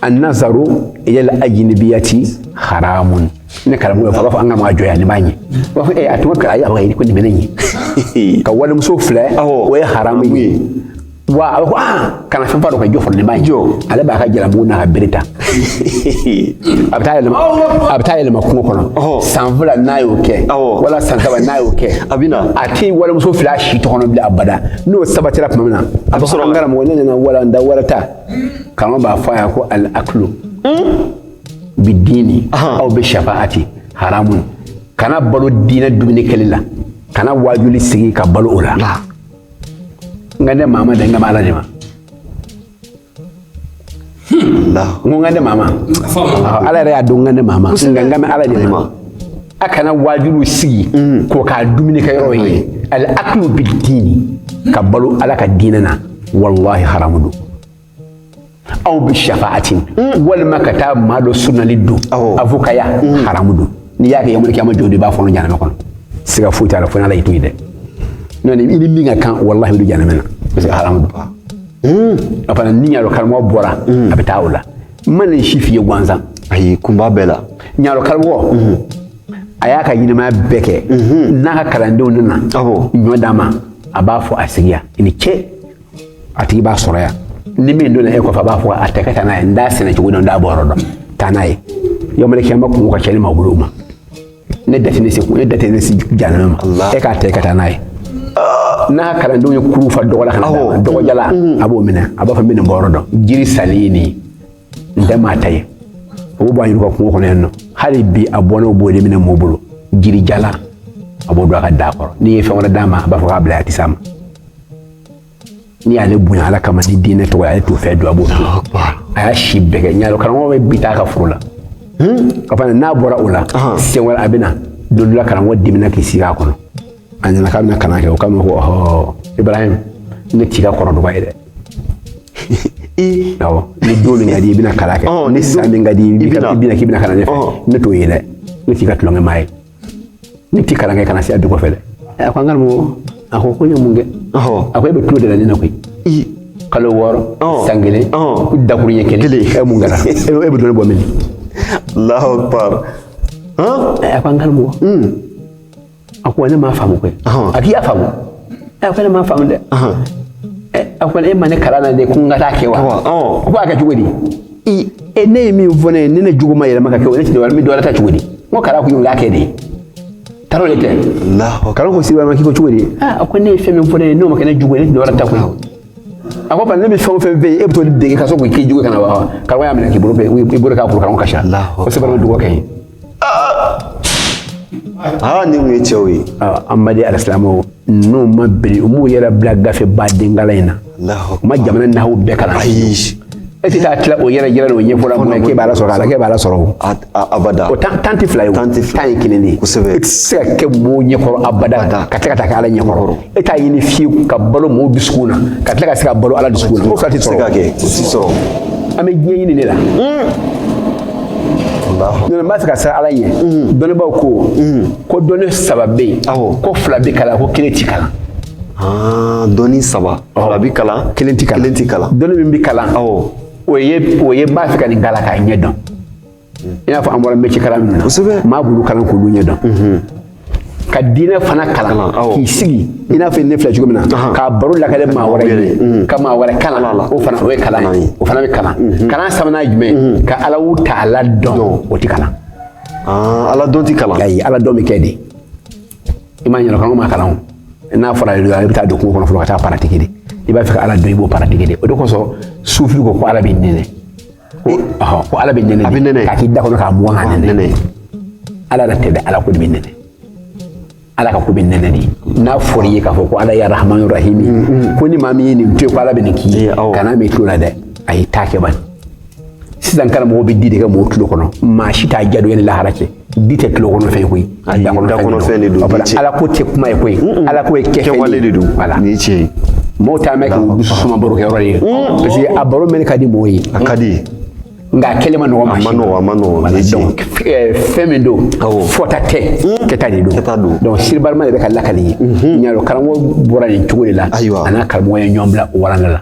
anazaru ila ajinabiyati haramun ne karamɔgɔ b'a fɔ an ka maa jɔ yan nin b'a ɲɛ b'a fɔ ee a tun ka ayi a b'a ye ko nin bɛ ne ɲɛ ka walimuso filɛ o ye haramu ye wa a bɛ ko aa kana fɛn fara a kan jɔ fɔlɔ nin b'a ɲɛ jɔ ale b'a ka jalabugu n'a ka bere ta a bɛ taa yɛlɛma a bɛ taa yɛlɛma kungo kɔnɔ san fila n'a y'o kɛ wala san saba n'a y'o kɛ a bɛ na a tɛ walimuso filɛ a si tɔ kɔnɔ bilen abada n'o sabatira tuma min na a bɛ sɔrɔ an karamɔgɔ ne nana walanda wɛrɛ ta karamɔgɔ hmm? b'a fɔ a ye ko al aklu hmm? bi diini aw bi shafaati haramu kana balo diinɛ dumuni kɛli la kana waajuli sigi ka balo o la n kan tɛ maa ma dɛ n kan bɛ ala de ma n ko n kan tɛ maa ma ala yɛrɛ y'a dɔn n kan tɛ maa ma n kan bɛ ala de ma a kana waajuli sigi k'o k'a dumunikɛ yɔrɔ ye al aklu bidini ka balo ala ka diinɛ na walahi haramu don aw bi shafaati walima ka taa maa dɔ sunali don a fɔ ko haramu don n'i y'a kɛ yɔmɔli kiyama jɔ de b'a fɔ jahanama kɔnɔ siga foyi t'a la fo n'ala y'i to yen dɛ n'o tɛ i ni min ka kan walahi i bɛ jahanama na parce que haramu don hmm. a fana ni ɲaro karamɔgɔ bɔra hmm. a bɛ taa o la n ma nin si f'i ye gansan ayi kun b'a bɛɛ la ɲaro karamɔgɔ hmm. a y'a ka ɲɛnamaya bɛɛ kɛ n'a ka kalandenw nana ɲɔ d'a ma a b'a fɔ a sigi yan i ni ce a tigi b'a sɔrɔ yan ni min donna e kɔfɛ a b'a fɔ a ta ka taa n'a ye n t'a sɛnɛ cogo dɔn n t'a bɔ yɔrɔ dɔn taa n'a ye yɔmɔli kiyama kun ka cɛ ni maa bolo ma ne da ti ne se kun ne da ti ne se jahanama e k'a ta ka taa n'a ye n'a kalandenw ye kurun fa dɔgɔ la ka na dɔgɔ jalan mm-hmm. a b'o minɛ a b'a fɔ n bɛ nin bɔ yɔrɔ dɔn jiri salen ye nin n tɛ maa ta ye o b'a ɲininka kungo kɔnɔ yan nɔ hali bi a bɔnnaw b'o de minɛ mɔɔ bolo jiri jalan a b'o don a ka daga kɔrɔ n'i ye fɛn wɛrɛ d'a ma a b'a fɔ k'a bila a tɛ s'a ma n'i y'ale bonya ala kama ni diinɛ tɔgɔ ale t'o fɛn dun a b'o to a y'a si bɛɛ kɛ ɲaro karamɔgɔ bɛ bi taa ka foro la hmm? ka fana n'a bɔra o la siɲɛ wɛrɛ a bɛ na don dɔ la karamɔgɔ dimina k'i sigi a kɔnɔ a nana k'a bɛna kalan kɛ o k'a ma ko ɔhɔ ibrahim ne t'i ka kɔrɔ dɔgɔ ye dɛ awɔ ni don min ka di i bɛna kalan kɛ ni san min ka di i bɛna k'i bɛna kalan ne fɛ ne t'o ye dɛ ne t'i ka tulonkɛ maa ye ne tɛ kalan kɛ kana se a du kɔfɛ dɛ a ko n karamɔgɔ a ko ko n ye mun kɛ a ko e bɛ tulon de la ne na koyi kalo wɔɔrɔ san kelen ko dakurunɲɛ kelen e mun kɛra e bɛ dɔnni bɔ min Allahu akbar a ko n karamɔgɔ a ko ne m'a faamu koyi a k'i y'a faamu a ko ne m'a faamu dɛ a ko e ma ne kalan na de ko n ka taa a kɛ wa a ko a kɛ cogo di i e ne ye min fɔ ne ye ni ne jogo ma yɛlɛma ka kɛ o ne tɛ dɔwɛrɛ n bɛ dɔwɛrɛ ta cogo di n ko kalan kun y'o k'a kɛ de ye taro de tɛ karamɔgɔ ko siriba ma k'i ko cogo di a ko ne ye fɛn min fɔ ne ye n'o ma kɛ ne jogo ye ne tɛ dɔwɛrɛ ta koyi a ko bari ne bɛ fɛn o fɛn fɔ i ye e bɛ t'o de dege ka sɔrɔ k'o k'i jogo ka na wa karamɔgɔ y'a minɛ k'i bolo bɛ i bolo k'a kuru karamɔgɔ kasila ko sɛbɛn bɛ dɔgɔ kɛ yen aa nin ye cɛw ye an ma di alisilamɛw n'u ma biri u m'u yɛrɛ bila gafe ba denkala in na u ma jamana naw bɛɛ kalan ayi e tɛ taa tila o yɛrɛ yɛrɛ de o ɲɛfɔla mun na k'e b'ala sɔrɔ ala k'e b'ala sɔrɔ o abada o tan tan tɛ fila ye o tan ye kelen de ye kosɛbɛ e tɛ se ka kɛ mɔgɔw ɲɛkɔrɔ abada ka tila ka taa kɛ ala ɲɛkɔrɔ e t'a ɲini fiyewu ka balo mɔgɔw dusukun na ka tila ka se ka balo ala dusukun na o fila tɛ sɔrɔ ka kɛ o tɛ sɔrɔ an b'a ɲini de la n'an bɛ se ka siran ala ɲɛ dɔnnibaaw ko ko dɔnni saba bɛ yen ko fila bɛ kalan ko kelen tɛ kalan dɔnni saba fila bɛ kalan kelen tɛ kalan kelen tɛ kalan dɔnni min bɛ kalan o ye o ye n b'a fɛ ka nin kalan k'a ɲɛ dɔn i n'a fɔ an bɔra mɛci kalan min na maa bulu kalan k'olu ɲɛ dɔn mhm. ka diinɛ fana kalan k'i sigi i n'a fɔ ne filɛ cogo min na k'a baro lakali maa wɛrɛ ye mhm. ka maa wɛrɛ kalan o fana o ye kalan ye o fana bɛ kalan mhm. kalan sabanan ye jumɛn ka Allahu ta'ala dɔn o tɛ kalan ah, ala dɔn tɛ kalan ayi ala dɔn bɛ kɛ de i m'a ɲɛna kanko ma kalan o n'a fɔra i bɛ taa don kungo kɔnɔ fɔlɔ ka taa pratique de i b'a fɛ ka ala dɔn i b'o pratique de o de kosɔn sufi ko ko ala bɛ nɛnɛ ko ala bɛ nɛnɛ a bɛ nɛnɛ k'a k'i da kɔnɔ k'a mugan k'a nɛnɛ ala yɛrɛ tɛ dɛ ala ko de bɛ nɛnɛ ala ka ko bɛ nɛnɛ de n'a fɔra i ye k'a fɔ ko ala ya rahmanu rahimi mm, mm. ko ni maa min ye nin to ye ko ala bɛ nin k'i ye kan'a mɛn i tulo la dɛ a y'i ta kɛ bani sisan karamɔgɔ bɛ di de kɛ mɔgɔw tulo kɔnɔ maa si t'a diya dɔn yanni lahara cɛ di tɛ tulo kɔnɔ fɛn koyi a da kɔnɔ fɛn de don ala ko tɛ kuma ye koyi ala ko ye kɛwale de don voilà ni tiɲɛ ye mɔgɔw t'a mɛn k'u dusu suma baro kɛ yɔrɔ ye parce que a baro mɛn ka di mɔgɔw ye a ka di nka a kɛlen man nɔgɔ a man nɔgɔ a man nɔgɔ donc fɛn min don fɔta tɛ kɛta de don kɛta don donc siribalima de bɛ ka lakali ye ɲa dɔn karamɔgɔ bɔra nin cogo de la a n'a karamɔgɔ ye ɲɔgɔn bila o waranga la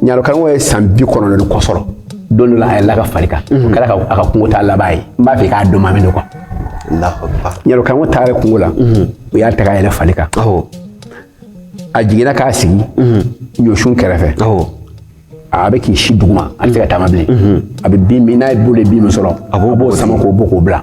ɲaro karamɔgɔ ye san bi kɔnɔntɔn ni kɔ sɔrɔ don dɔ la a yɛlɛla a ka fari kan o kɛra a ka kungo taa laban ye n b'a fɛ k'a dɔn maa min don quoi ɲaro karamɔgɔ taara kungo la u y'a ta k'a yɛlɛ fari kan a jiginna k'a sigi ɲɔsun kɛrɛfɛ a bɛ k'i si duguma a tɛ se ka taama bilen a bɛ bin min n'a bolo ye bin min sɔrɔ a b'o sama k'o bɔ k'o bila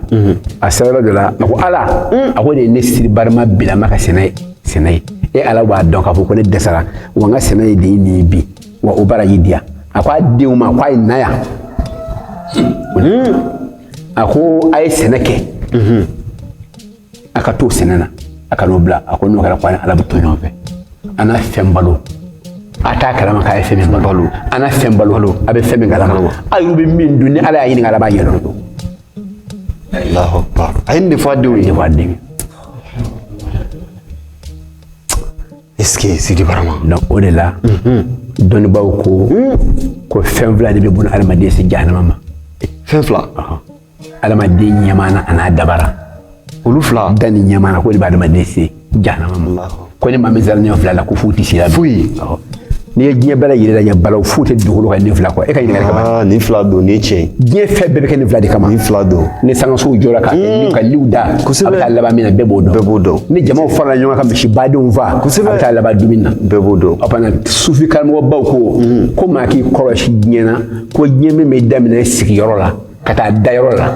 a sera dɔ la a ko ala a ko de ye ne Sidi Barama bilama ka sɛnɛ ye sɛnɛ ye e ala b'a dɔn k'a fɔ ko ne dɛsɛra wa n ka sɛnɛ ye de ye nin bi wa o baara y'i diya a ko a denw ma ko a ye na yan a ko a ye sɛnɛ kɛ a ka to sɛnɛ na a kan'o bila a ko n'o kɛra ko ala bɛ to ɲɔgɔn fɛ a na fɛn balo a t'a kalama k'a ye fɛn min balo a na fɛn balo a bɛ fɛn min kalama a y'u bɛ min dun ni ala y'a ɲininka ala b'a yɛlɛ o don Allahu akbar a ye nin de fɔ a denw ye b'a denkɛ est ce que Sidi Barama donc o de la dɔnnibaaw ko ko fɛn fila de bɛ buna adamaden se jahanama ma fɛn fila adamaden ɲɛmaana an'a dabara olu fila da ni ɲɛmana k'o de bɛ adamaden se jahanama ma ko ni maa min sera nin fila la ko foyi tɛ s'i la foyi n'i ye diɲɛ bɛɛ lajɛlen lajɛ balaw foyi tɛ dugukolo kan nin fila kɔ e ka ɲininkali kama ah, nin fila don nin tiɲɛ diɲɛ fɛn bɛɛ bɛ kɛ nin fila de kama nin fila don ni sankansow jɔra ka hmm. ka liw da a bɛ taa laban min na bɛɛ b'o dɔn bɛɛ b'o dɔn ni jamaw farala ɲɔgɔn kan ka misi badenw faa a bɛ taa laban dumuni na bɛɛ b'o dɔn a fana sufi karamɔgɔbaw ko hmm. ko maa k'i kɔlɔsi diɲɛ na ko diɲɛ min bɛ daminɛ sigiyɔrɔ la ka taa dayɔrɔ la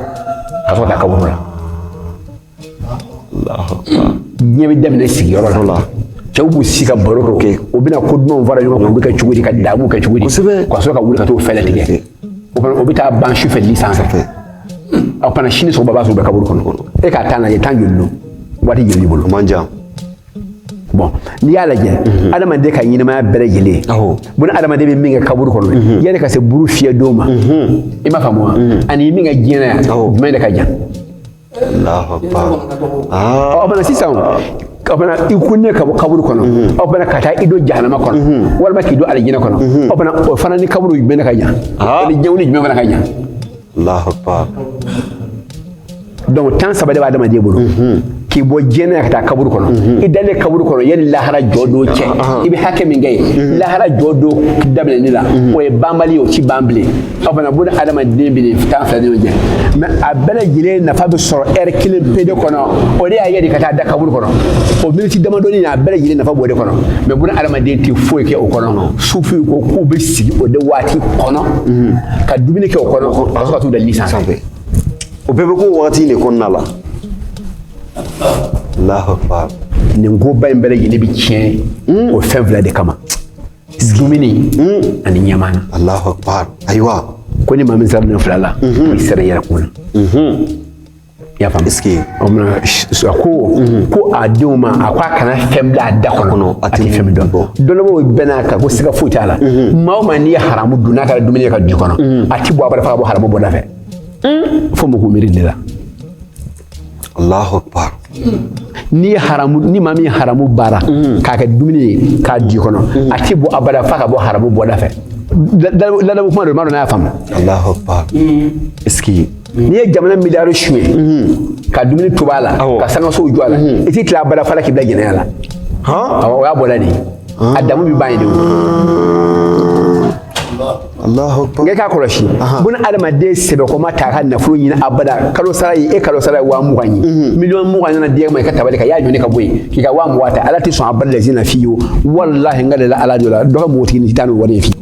ka sɔrɔ ka taa kaburu la diɲɛ bɛ daminɛ sigiyɔrɔ la cɛw b'u si ka baro dɔ kɛ u bɛna ko dumanw fara ɲɔgɔn kan u bɛ kɛ cogo di ka daamu kɛ cogo di ka sɔrɔ ka wuli ka t'o fɛɛrɛ tigɛ o fana o bɛ taa ban sufɛ li sanfɛ a fana sini sɔgɔma b'a sɔrɔ u bɛ kaburu kɔnɔ e ka t'a lajɛ tan joli don waati joli b'i bolo man jan bɔn n'i y'a lajɛ mhm. adamaden ka ɲɛnamaya bɛɛ lajɛlen buna adamaden bɛ min kɛ kaburu kɔnɔ mhm. yanni ka se buru fiyɛ don ma mhm. i m'a faamu wa ani min kɛ diɲɛ na yan jumɛn de ka jan a fana sisan a fana i kununnen ka bɔ kaburu kɔnɔ a fana ka taa i don jahanama kɔnɔ walima k'i don alijinɛ kɔnɔ a fana o fana ni kaburu jumɛn de ka jan ani diɲɛ ni jumɛn fana ka jan dɔnku tan saba de bɛ adamaden bolo mhm. k'i bɔ diɲɛ na ka taa kaburu kɔnɔ mhm. i dalen kaburu kɔnɔ yanni lahara jɔ don cɛ ah, ah. i bɛ hakɛ min kɛ yen mhm. lahara jɔ don daminɛni la o ye banbali ye o ti ban bilen o fana buna adamaden bɛ nin tan fila de ɲɔgɔn cɛ mɛ a bɛɛ lajɛlen nafa bɛ sɔrɔ ɛri kelen pe de kɔnɔ o de y'a ye de ka taa da kaburu kɔnɔ o miniti damadɔnin a bɛɛ lajɛlen nafa b'o de kɔnɔ mɛ buna adamaden tɛ foyi kɛ o kɔnɔ sufiw ko k'u bɛ sigi o de waati kɔnɔ ka dumuni kɛ o kɔnɔ ka sɔrɔ ka t'u da li sanfɛ o bɛɛ bɛ k'o wagati de kɔnɔna la alahu akbar nin koba in bɛɛ lajɛlen bɛ tiɲɛ o fɛn fila de kama dumuni ani ɲɛmaa na alahu akbar ayiwa ko ni maa min sera nin fila la i sera i yɛrɛ kun na i y'a faamu est ce que o tuma na a ko ko a denw ma a ko a kana fɛn bila a da kɔnɔ a tɛ fɛn min dɔn dɔnnibagaw bɛnn'a kan ko siga foyi t'a la maa o maa n'i ye haramu dun n'a kɛra dumuni ye ka don kɔnɔ a tɛ bɔ abada fo ka bɔ haramu bɔda fɛ fo mɔgɔw miiri de la alahu akbar n'i ye haramu ni maa min ye haramu baara k'a kɛ dumuni ye k'a don kɔnɔ a tɛ bɔ abada fo ka bɔ haramu bɔda fɛ ladamu kuma don n m'a dɔn n'a y'a faamu alahu akbar est ce que n'i ye jamana miliyari sonya ka dumuni tobi a la ka sangasow jɔ a la i t'i tila abada f'a la k'i bila jɛnɛya la o y'a bɔda de ye a damu bɛ ban yen de n k'a kɔlɔsi buna adamaden sɛbɛkɔma ta ka nafolo ɲini abada kalo sara ye e kalo sara ye waa mugan ye miliyɔn mugan nana di e ma i ka tabali kan i y'a ɲɔni ka bɔ yen k'i ka waa mugan ta ala tɛ sɔn abada lajina fiyewu walahi n ka deli ala de la dɔ ka npogotiginin tɛ taa ni wari ye fiyewu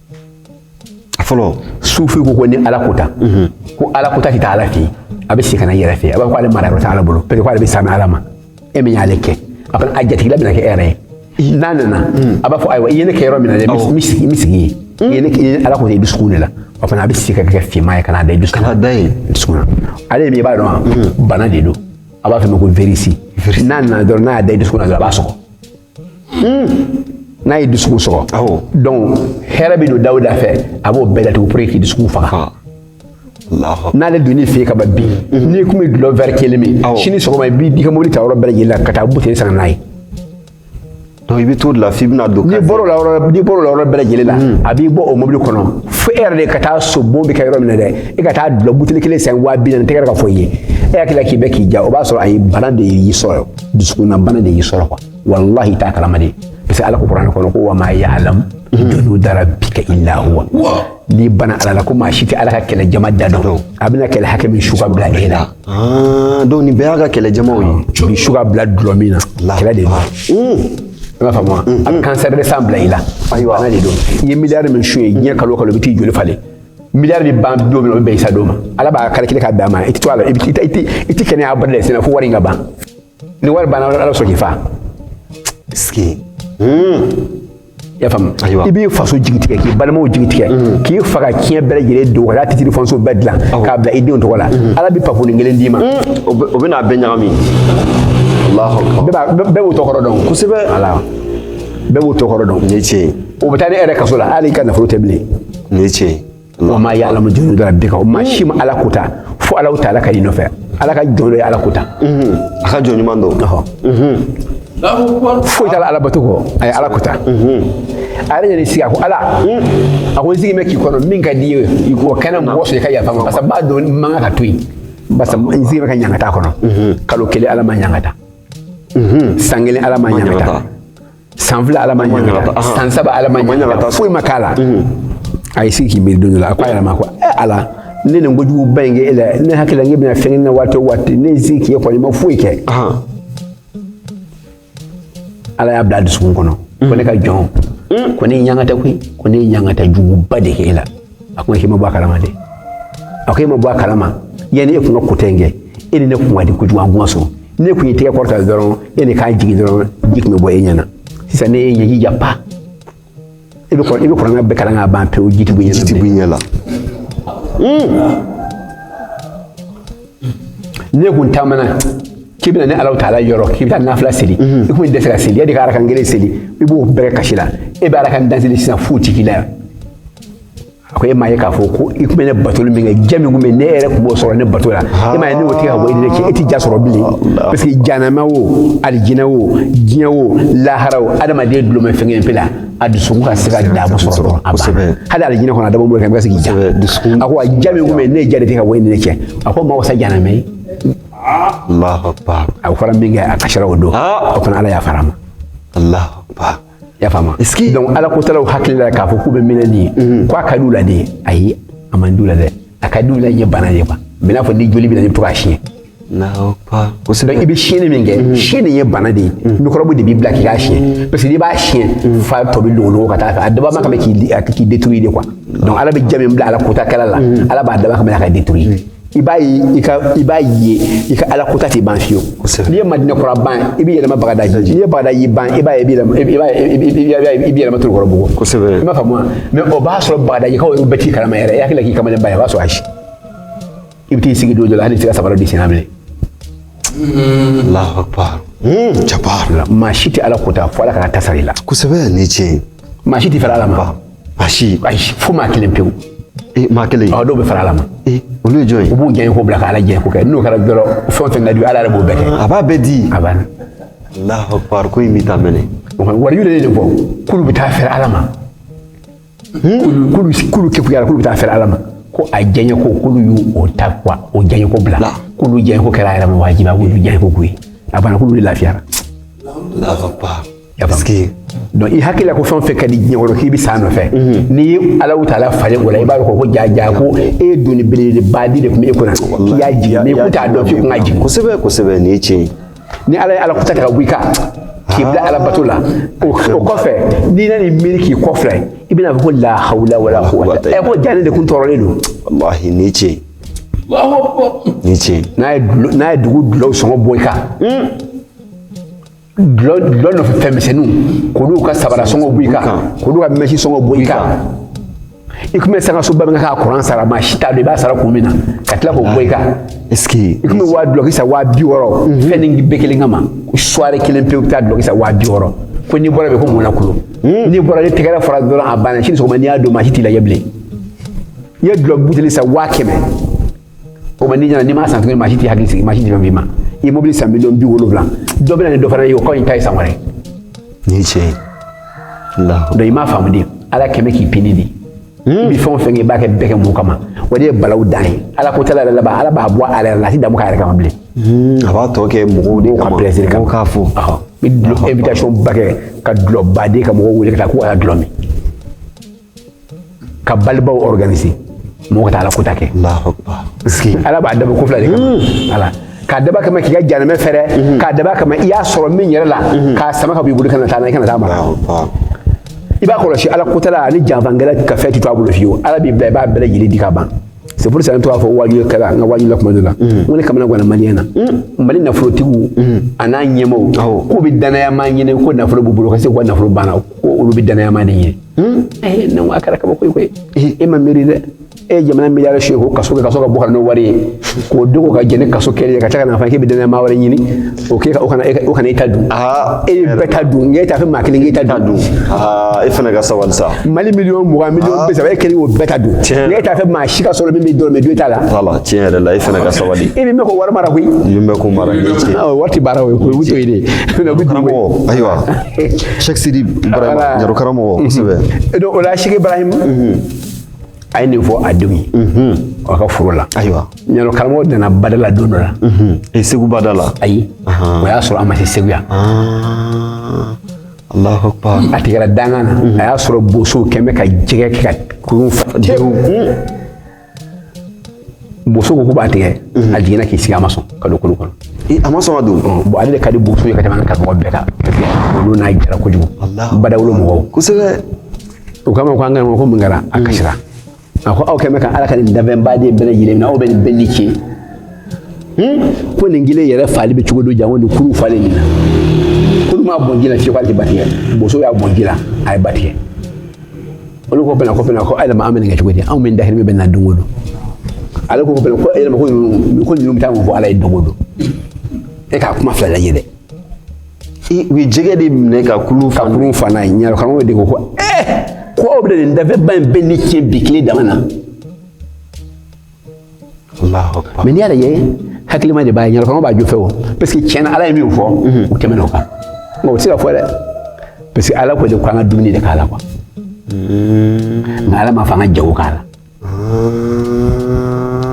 fɔlɔ sufi ko ko ni ala ko ta mhm. ko ala ko ta tɛ taa ala fɛ yen a bɛ segin ka na yɛrɛ fɛ a b'a fɔ k'ale mara yɔrɔ tɛ ala bolo parce que k'ale bɛ sami ala ma e min y'ale kɛ a fana a jatigila bɛna kɛ e yɛrɛ ye n'a nana mhm. a b'a fɔ ayiwa i ye ne kɛ yɔrɔ min na dɛ n bɛ sigi n bɛ sigi yen mhm. i ye ne kɛ ala ko ta i dusukun de la o fana a bɛ segin ka kɛ finman ye ka n'a da i dusukun na dusukun na ale min i b'a dɔn wa bana de don a b'a fɔ ma ko virisi n'a nana dɔrɔn n'a y'a da i dusukun na dɔrɔn a b'a sɔgɔ n'a ye dusukun sɔgɔ awɔ donc hɛrɛ bɛ don da o da fɛ a b'o bɛɛ datugu pour que k'i dusukun faga n'ale donn'i fɛ ka ban bi mhm. n'i kun bɛ dulɔ vɛri kelen min sini sɔgɔma i b'i ka mobili ta yɔrɔ bɛɛ lajɛlen la ka taa buteli san n'a ye donc i bɛ t'o de la f'i bɛna don n'i bɔr'o la yɔrɔ n'i bɔr'o la yɔrɔ bɛɛ lajɛlen la mhm. a b'i bɔ o mobili kɔnɔ fo e yɛrɛ de ka taa so bon bɛ kɛ yɔrɔ min na dɛ e ka taa dulɔ buteli kelen san waa bi naani tɛgɛ ka fɔ i ye e hakili la k'i bɛ k'i ja o b'a sɔrɔ ayi bana de y'i sɔrɔ dusukunna bana de y'i sɔrɔ quoi walahi i t'a kalama de parce que ala ko kuranɛ kɔnɔ ko wa ma ya'lamu junuda rabbika illa huwa n'i bɔra ala la ko maa si tɛ ala ka kɛlɛ jama da dɔn a bɛna kɛlɛ hakɛ min su ka bila e la ah, donc nin bɛɛ y'a ka kɛlɛ jamaw ye ni su ka bila dulɔ min na kɛlɛ de don hmm. i b'a faamu wa hmm. a bɛ kansɛri de san bila i la bana de don i ye miliyari min sonya diɲɛ kalo o kalo i bɛ t'i joli falen miliyari bɛ ban don min na o bɛ bɛn i sa don ma ala b'a calculer ka bɛn a ma i tɛ to a la i tɛ kɛnɛya abada de sɛnɛ fo wari in ka ban ni wari banna ala sɔrɔ k'i fa i y'a faamu i b'i faso jigi tigɛ k'i balimaw jigi tigɛ mm. k'i fa ka tiɲɛ bɛɛ lajɛlen dun ka taa titiri fɔnsiye bɛɛ dilan k'a bila i denw tɔgɔ la mm. ala bɛ pafolin kelen d'i ma mm. o bɛ n'a bɛɛ ɲagami bɛɛ b'o tɔgɔ dɔn kosɛbɛ bɛɛ b'o tɔgɔ dɔn ni tiɲɛ o bɛ taa ne yɛrɛ kaso la hali i ka nafolo tɛ bilen nin ye tiɲɛ ye wa ma ya'lamu junuda rabbika o maa si ma ala kota fo ala ta ala ka i nɔfɛ ala ka jɔn dɔ ye ala kota a ka jɔn ɲuman don foyi t'a la ala bato kɔ a ye ala kota a yɛrɛ yɛrɛ sigi a ko ala a ko n sigi bɛ k'i kɔnɔ min ka di i ye i k'o kɛ n na mɔgɔ sɔrɔ i ka yafa ma parce que b'a dɔn man kan ka to yen parce que n sigi bɛ ka ɲangata kɔnɔ kalo kelen ala m'a ɲangata san kelen ala m'a ɲangata san fila ala m'a ɲangata san saba ala m'a ɲangata foyi ma k'a la mhm. a y'i sigi k'i miiri don dɔ la a ko a yɛrɛ ma ko eh, ala ne nin kojugu ba in kɛ e la ne hakili la n k'e bɛna fɛn kɛ n na waati o waati ne ye sigi k'e kɔnɔ i ma foyi kɛ ala y'a bila a dusukun kɔnɔ ko ne ka jɔn ko ne y'e ɲangata koyi ko ne ye ɲangata juguba de kɛ e la a ko a ma k'i ma bɔ a kalama dɛ a ko e ma bɔ a kalama yanni e kun ka kota in kɛ e ni ne kun ka di kojugu an kun ka sɔn n'e kun y'i tɛgɛ kɔrɔta dɔrɔn yanni i k'a jigin dɔrɔn ji kun bɛ bɔ e ɲɛna sisan ne y'e ɲɛji ja pa i bɛ i bɛ kuranɛ bɛɛ kalan k'a ban pewu ji ti b'i ɲɛna ji ti b'i ɲɛ la n'e kun taamana k'i bɛna ne ala taala yɔrɔ k'i bɛ taa nafila seli mhm. i kun tɛ se ka seli yanni i ka arakan kelen seli i b'o bɛɛ kɛ kasi la e bɛ arakan tan seli sisan foyi ti k'i la yan a ko e m'a ye k'a fɔ ko i tun bɛ ne batoli min kɛ ja min tun bɛ ne yɛrɛ tun b'o sɔrɔ ne bato la e m'a ye ne y'o tigɛ ka bɔ e ni ne cɛ e tɛ ja sɔrɔ bilen parce que janama o alijinɛ o diɲɛ o lahara o adamaden dulon bɛ fɛn kelen pe la a dusukun ka se ka daamu sɔrɔ dɔrɔn a banna hali alijinɛ kɔnɔ a dabɔ bolo kan i bɛ se k'i ja a ko a ja min kun bɛ yen ne ye ja de tigɛ ka bɔ e ni ne cɛ a k'o ma wasa janama ye a fɔra min kɛ a kasira o don o fana ala yafara a ma y'a faamu donc ala ko talaw hakili la k'a fɔ k'u bɛ min na nin ye ko a ka di u la de ayi a man di u la dɛ a ka di u la ye bana de ye quoi mais n'a fɔ ni joli b'i la n'i to k'a siɲɛ Kosɛbɛ i bɛ siɲɛni min kɛ mhm. siɲɛni ye bana de ye mhm. mikɔrɔbu de b'i bila k'i k'a siɲɛ mhm. parce que n'i b'a siɲɛ fa tɔ bɛ don ka taa a dabɔ kama k'i détruire de quoi donc ala bɛ ja min bila ala kota kɛla la ala b'a dabɔ kama ka détruire i b'a i b'a ye i ka ala kota tɛ ban fiyewu n'i ye madinɛ kura ban i bɛ yɛlɛma bagadaji n'i ye bagadaji ban i b'a i bɛ yɛlɛma torokɔrɔbugu kosɛbɛ i b'a faamu mais o b'a sɔrɔ bagadajikaw bɛɛ t'i kalama yɛrɛ i hakili la k'i kamalen ba ye o b'a sɔrɔ ayi i bɛ t'i sigi don dɔ la hali i tɛ se ka sabara d'i sen na bilen Allahu akbar. Mm, jabar. maa si tɛ ala kota fo ala k'a ta sara i la Kosɛbɛ ni tiɲɛ ye. maa si tɛ fara ala ma Basi. ayi fo maa kelen pewu E maa kelen. ɔ dɔw bɛ fara ala ma E olu ye jɔn ye? u b'u jɛɲe ko bila ka ala jɛɲe ko kɛ n'o kɛra dɔrɔn fɛn o fɛn ka di u ye, ala yɛrɛ b'o bɛɛ kɛ A b'a bɛɛ di. a banna Allahu akbar ko in bɛ taa mɛnɛ. o kɔni wari yɛrɛ de fɔ k'olu bɛ taa fara ala ma Hmm? k'olu k'olu kegunya k'olu bɛ taa fɛrɛ ala ma ko a diyaɲɛ ko k'olu y'u o ta quoi o diyaɲɛ ko bila k'olu diyaɲɛ ko kɛra a yɛrɛ ma wajibi a k'olu diyaɲɛ ko k'u ye a banna k'olu de lafiyara parce que donc i hakili la ko fɛn o fɛn ka di diɲɛ kɔnɔ k'i bɛ s'a nɔfɛ n'i ye Alahu Taala falen o la i b'a dɔn ko ja ja ko e ye doni belebeleba de tun bɛ e kunna k'i y'a jigin mais i kun t'a dɔn k'i kun ka jigin kosɛbɛ kosɛbɛ nin ye tiɲɛ ye ni ala ye ala kota ka bɔ i kan k'i bila ala bato la o kɔfɛ n'i nan'i miiri k'i kɔfilɛ i bɛna fɔ ko la hawla wala quwwata ɛ ko jaa ne de kun tɔɔrɔlen don wallahi nin ye tiɲɛ ye nin ye tiɲɛ ye n'a ye n'a ye dugu dulɔw sɔngɔ bɔ i kan dulɔ dulɔ nɔfɛ fɛnmisɛnninw k'olu ka sabara sɔngɔ bɔ i kan k'olu ka mɛsi sɔngɔ bɔ i kan i kun bɛ sanga soba min ka kuran sara maa si t'a dɔn i b'a sara kun min na ka tila k'o bɔ i kan i kun bɛ waa dulɔki san waa bi wɔɔrɔ mhm. fɛn ni bɛɛ kelen kama soirée kelen pewu bɛ taa dulɔki san waa bi wɔɔrɔ ko n'i bɔra bɛɛ ko mun na kulo mhm. n'i bɔra ni tɛgɛrɛ fɔra dɔrɔn a banna sini sɔgɔma n'i y'a don maa si t'i lajɛ bilen i ye dulɔ buteli san waa kɛmɛ o ma n'i ɲɛna n'i m'a san tuguni maa si t'i hakili sigi maa si t'i fɛn f'i ma i ye mobili san miliyɔn bi wolonwula dɔ bɛ na ni dɔ fana ye o kɔ in ta ye san wɛrɛ nin ye tiɲɛ ye donc i m'a faamu de ala kɛn bɛ k'i pini de i bɛ fɛn o fɛn kɛ i b'a kɛ bɛɛ kɛ mun kama o de ye balawu dan ye ala ko tala yɛrɛ laban ala b'a bɔ a yɛrɛ la a tɛ damu k'a yɛrɛ kama bilen a b'a tɔ kɛ mɔgɔw de kama plaisir kama k'a fɔ i bɛ invitation ba kɛ ka dulɔ ba don ka mɔgɔw wele ka taa k'u ka dulɔ min ka balibaw organiser mɔgɔ ka taa ala kota kɛ ala b'a dabɔ ko fila de kama hmm. ala k'a dabɔ kama k'i ka janɛmɛ fɛrɛ hmm. k'a dabɔ kama i y'a sɔrɔ min yɛrɛ la hmm. k'a sama ka b'i bolo kana taa na i kana taa mara i b'a kɔlɔsi ala kotala ani janfakɛla ka fɛn ti to a bolo fiyewu ala b'i bila i b'a bɛɛ lajɛlen di ka ban c'est pour ça ne to k'a fɔ waajuli kɛra n ka waajuli la kuma dɔ la n ko ne kamanaganna maliyɛnw na mali nafolotigiw an'a ɲɛmaaw k'u bɛ dannaya maa ɲini ko nafolo b'u bolo ka se k'u ka nafolo banna ko olu bɛ dannaya maa de ɲini Hmm? Eh, ne ko a kɛra kabako ye koyi eh, e ma miiri dɛ e ye jamana miliyari sonyɛ ko kaso kɛ kaso ka bɔ ka n'o wari ye k'o dogo ka jɛn ni kaso kɛli ye ka tila ka n'a fɔ k'e bɛ dannaya maa wɛrɛ ɲini o k'e ka o kana e o kana e ta dun ah, e ye bɛɛ ta dun nka e t'a fɛ maa kelen k'e ta dun ah, e fana ka sabali sa mali miliyɔn mugan miliyɔn ah. bi saba e kelen k'o bɛɛ ta dun nka e t'a fɛ maa si ka sɔrɔ min bɛ dɔrɔmɛ dun e ta la voilà tiɲɛ yɛrɛ la e fana ka sabali e min bɛ k'o wari mara koyi min bɛ k'o mara wari tɛ baara o ye koyi o bɛ to yen de ayiwa Sɛki Sidi Barahima Ɲarɔkaramɔgɔ kosɛbɛ donc o la Sɛki Ibarahim a ye nin fɔ a denw ye a ka foro la ayiwa Ɲarɔkaramɔgɔ nana bada la don dɔ la e Segu bada la ayi o y'a sɔrɔ a ma se Segu yan Alahu Akbar a tigɛra dankan na a y'a sɔrɔ bosow kɛn bɛ ka jɛgɛ kɛ ka kurun fa boso ko k'u b'a tigɛ a jiginna k'i sigi a ma sɔn ka don kulu kɔnɔ a ma sɔn ka don bon ale de ka di boso ye ka tɛmɛ an karamɔgɔ bɛɛ kan olu n'a jara kojugu badawolo mɔgɔw kosɛbɛ u k'a ma ko an ka ko mun kɛra a kasira a ko aw kɛlen ka ala ka nin danfɛnba nin bɛɛ lajɛlen minɛ aw bɛ nin bɛɛ ni tiɲɛ ko nin kelen yɛrɛ fali bɛ cogo di janko nin kulu falen nin na k'olu m'a bɔn ji la fiyewu k'ale tɛ ba tigɛ boso y'a bɔn ji la a ye ba tigɛ olu ko bɛna ko bɛna ko yɛlɛma an bɛ kɛ cogo di anw bɛ dahirimɛ bɛ na don o don ale ko bɛna ko yɛlɛma ko ninnu ko ninnu bɛ taa mun fɔ ala ye don o don e k'a kuma fila lajɛ dɛ u ye jɛgɛ de minɛ ka kulu ka kulu fa n'a ye ɲaro karamɔgɔ de ko ko ɛɛ ko aw bɛ nin danfɛnba in bɛɛ ni tiɲɛ bi tile dama na mais n'i y'a lajɛ hakilima de b'a ye ɲaro karamɔgɔ b'a jo fɛ o parce que tiɲɛ na ala ye min fɔ u tɛmɛna o kan nka o tɛ se ka fɔ dɛ parce que ala ko de ko an ka dumuni de k'a la quoi nka ala m'a fɔ an ka jago k'a la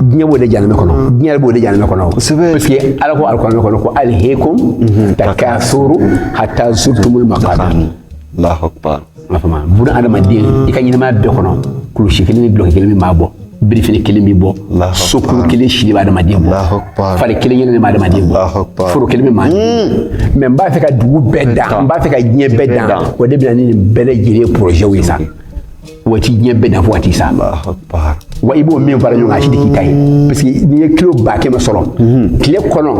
diɲɛ b'o de janamɛ kɔnɔ diɲɛ b'o de janamɛ kɔnɔ parce que ala ko alikuranɛ kɔnɔ ko alhakumu takasuru hatta zurtumul maqabir m'a faamu bon adamaden i ka ɲɛnamaya bɛɛ kɔnɔ kulusi kelen ni dulɔki kelen min b'a bɔ birifini kelen b'i bɔ so kulu kelen si de bɛ adamaden bɔ fari kelen kelen de bɛ adamaden bɔ foro kelen bɛ maa mais n b'a fɛ ka dugu bɛɛ dan n b'a fɛ ka diɲɛ bɛɛ dan o de bɛ na ni nin bɛɛ lajɛlen porozɛw ye sa wa t'i diɲɛ bɛɛ dan fo ka t'i sa wa i b'o min fara ɲɔgɔn kan a si tɛ k'i ta ye parce que n'i ye kilo ba kɛmɛ sɔrɔ tile kɔnɔ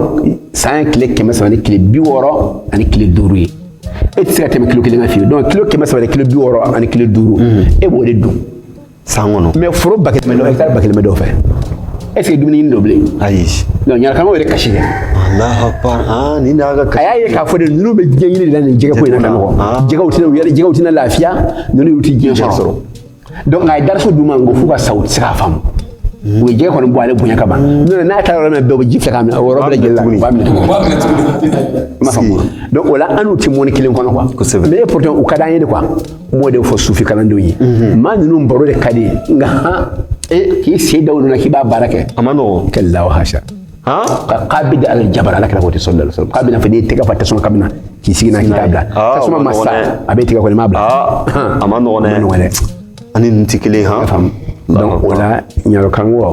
san ye tile kɛmɛ saba ni tile bi wɔɔrɔ ani tile duuru ye e tɛ se ka tɛmɛ kilo kelen kan fiyewu donc kilo kɛmɛ saba ni kilo bi wɔɔrɔ ani kilo duuru e b'o de dun san kɔnɔ mais foro ba kelen bɛ dɔ hɛkitari ba kelen bɛ dɔ fɛ est ce que dumuni ɲini don bilen ayi donc ɲaro karamɔgɔ yɛrɛ kasi kɛ alahu akbar ah nin de y'a ka a kasi y'a ye k'a fɔ de ninnu bɛ diɲɛ ɲini de la nin jɛgɛko in na ka nɔgɔn Ah. jɛgɛw tɛna u yɛrɛ jɛgɛw tɛna lafiya ninnu yɛrɛ tɛ diɲɛ sɔrɔ donc a ye darasu d'u ma nka f'u ka sa u tɛ se k'a faamu u ye jɛgɛ kɔni bɔn ale bonya kama n'o n'a taara yɔrɔ min bɛɛ u bɛ ji fɛ k'a minɛ o yɔrɔ bɛɛ lajɛlen la u b'a minɛ tuguni i m'a faamu donc o la an n'u tɛ mɔni kelen kɔnɔ quoi kosɛbɛ mais pourtant u ka d'an ye de quoi n b'o de fɔ sufi kalandenw ye maa ninnu baro de ka di nka han k'i sen da u nɔ na k'i b'a baara kɛ a ma nɔgɔn kɛlaw hasa qabidi ala jamara ala kira ko tɛ sɔn dala sɔrɔ k'a bɛna fɔ n'i ye tɛgɛ fa tasuma ka na k'i sigi n'a k'i t'a bila tasuma ma sa a b'i tɛgɛ kɔnɔ i m'a bila a ma nɔgɔn dɛ nɔgɔn dɛ ani nin tɛ kelen han faamu donc o la ɲaro karamɔgɔ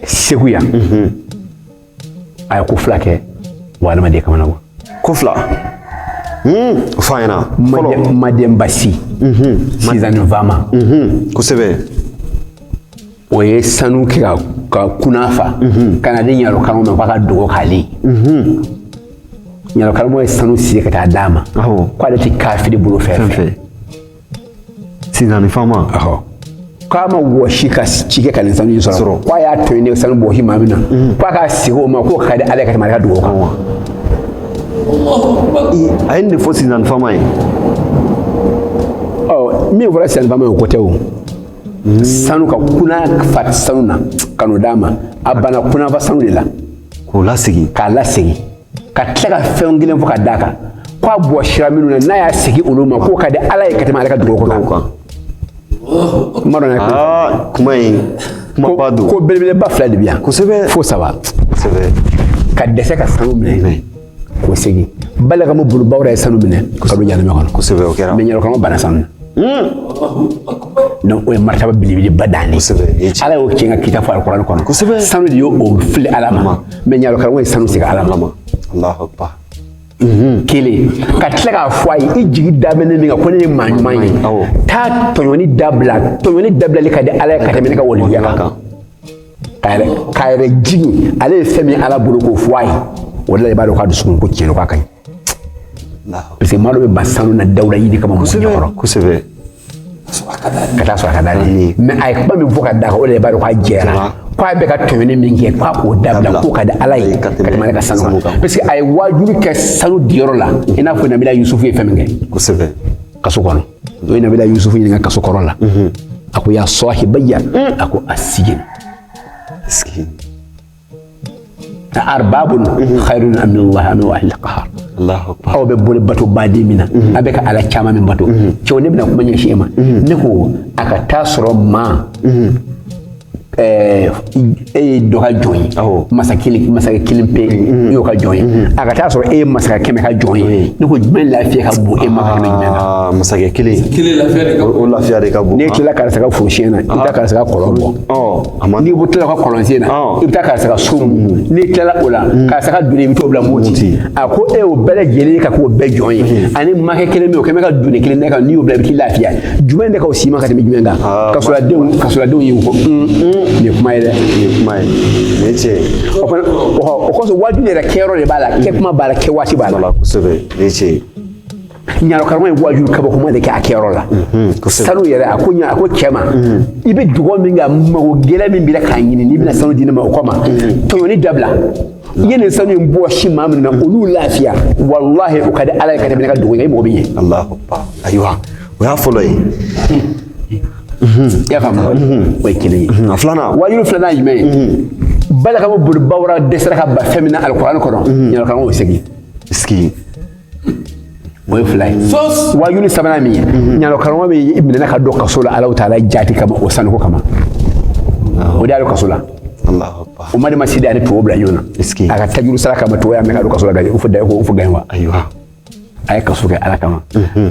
segu yan a ye ko fila kɛ wa adamaden kamanagan ko fila fɔ an ɲɛna fɔlɔ madenba si sinsani faama kosɛbɛ o ye sanu kɛ ka ka kunan fa mhm. ka na di ɲarɔ karamɔgɔ ma k'a ka dugawu k'ale ye mhm. ɲarɔ karamɔgɔ ye sanu segin ka taa d'a ma k'ale tɛ kafiri bolofɛn fɛ sinzani fama k'a ma wɔsi ka ci kɛ ka nin sanu in sɔrɔ k'a y'a to yen ne sanu bɔsi maa min na mhm. k'a k'a segin o ma k'o ka di ala ye ka tɛmɛ ale ka dugawu kan wa a ye nin de fɔ sinzani fama ye min fɔra sinzani fama ye o ko tɛ o sanu ka kunan fa sanu na ka n'o d'a ma a banna kunanfa sanu de la k'o lasegin k'a lasegin ka tila ka fɛn kelen fɔ ka d'a kan ko a bɔsira minnu na n'a y'a segin olu ma k'o ka di ala ye ka tɛmɛ ale ka dugawu kan kuma dɔ na kuma in kumaba don ko belebeleba fila de bɛ yan kosɛbɛ fo saba kosɛbɛ ka dɛsɛ ka sanu minɛ o segin balakamu bunu bawura ye sanu minɛ ka don jahanama kɔnɔ kosɛbɛ o kɛra mais ɲarɔ karamɔgɔ banna sanu na donc o ye martaba belebeleba dan de ala y'o tiɲɛ ka kisa fɔ alikuranɛ kɔnɔ sanu de y'o o fili ala ma mais ɲarɔ karamɔgɔ ye sanu segin ala ma kelen ka tila k'a fɔ a ye i jigi da bɛ ne min kan ko ne ye maa ɲuman ye taa tɔɲɔni dabila tɔɲɔni dabilali ka di ala ye ka tɛmɛ ne ka waleya kan k'a yɛrɛ k'a yɛrɛ jigin ale ye fɛn min ala bolo k'o fɔ a ye o de la i b'a dɔn k'a dusukun ko tiɲɛ na k'a ka ɲi parce que maa dɔ bɛ ban sanu na dawula yira kama mɔgɔ ɲɛkɔrɔ kosɛbɛ ka taa sɔrɔ a ka d'ale ye mais a ye kuma min fɔ ka d'a kan o de la i b'a dɔn k'a jɛra k'a bɛ ka tɔɲɔni min kɛ k'a k'o dabila k'o ka di ala ye ka tɛmɛ ale ka sanu kan parce que a ye waajuli kɛ sanu diyɔrɔ la i n'a fɔ nabila yusufu ye fɛn min kɛ kosɛbɛ kaso kɔnɔ o ye nabila yusufu ɲininka sugo kɔrɔ la a ko ya sahibayi a ko as-sijin a arbabun khairun amillah al wahid al qahar Allahu akbar aw bɛ boli bato baden min na a bɛ ka ala caman min bato cɛw ne bɛna kuma ɲɛsin e ma ne ko a ka taa sɔrɔ maa e ye dɔ ka jɔn ye masa masakɛ kelen pe i y'o ka jɔn ye a ka taa sɔrɔ e ye masakɛ kɛmɛ ka jɔn ye ne ko jumɛn lafiya ka bon e ma ka jumɛn na masakɛ kelen o lafiya de ka bon n'e tilala karisa ka forosɛnɛ na i bɛ taa karisa ka kɔlɔn bɔ n'i ko tilala ka kɔlɔnsen na i bɛ taa karisa ka so mun n'i tilala o la karisa ka doni i bɛ t'o bila moti a ko e y'o bɛɛ lajɛlen ka k'o bɛɛ jɔn ye ani makɛ kelen bɛ o kɛmɛ ka doni kelen da kan n'i y'o bila i bɛ t'i lafiya jumɛn de ka wusa i ma ka tɛmɛ jumɛn kan ah, kasoladenw kasoladenw y'u kɔ mm, mm. nin ye kuma ye dɛ nin ye kuma ye nin ye tiɲɛ ye o fana o kɔsɔn waajuli yɛrɛ kɛyɔrɔ de b'a la kɛtuma b'a la kɛwaati b'a la kosɛbɛ nin ye tiɲɛ ye ɲarɔ karamɔgɔ ye waajuli kabakoma de kɛ a kɛyɔrɔ la mm-hmm, sanu yɛrɛ a ko a ko cɛ ma mm-hmm. i bɛ dugawu min kɛ mago gɛlɛn min b'i la k'a ɲini n'i bɛna sanu di ne ma o kama mm-hmm. tɔɲɔni dabila i ye nin sanu in bɔsi maa min na olu lafiya walahi o ka di ala ye ka tɛmɛ ne ka dogo ye i mɔgɔ bɛɛ ɲɛ alahu ayiwa o y'a fɔlɔ ye i y'a faamu o ye kelen ye a filanan waajuli filanan ye jumɛn ye bala karamɔgɔ boliba wɛrɛ dɛsɛra ka ba fɛn min na alikuran kɔnɔ ɲarɔ karamɔgɔ segin sigi o ye fila ye waajuli sabanan min ye mhm. ɲarɔ karamɔgɔ de minɛna ka don kaso la ala taala jati kama o sanuko kama o de y'a don kaso la o madɛnba si de y'a ni tubabu bila ɲɔgɔn na a ka tajuru sara kama tubabu y'a minɛ ka don kaso la ka o fɔ da ko o fɔ gɛn wa a ye kaso kɛ ala kama mhm.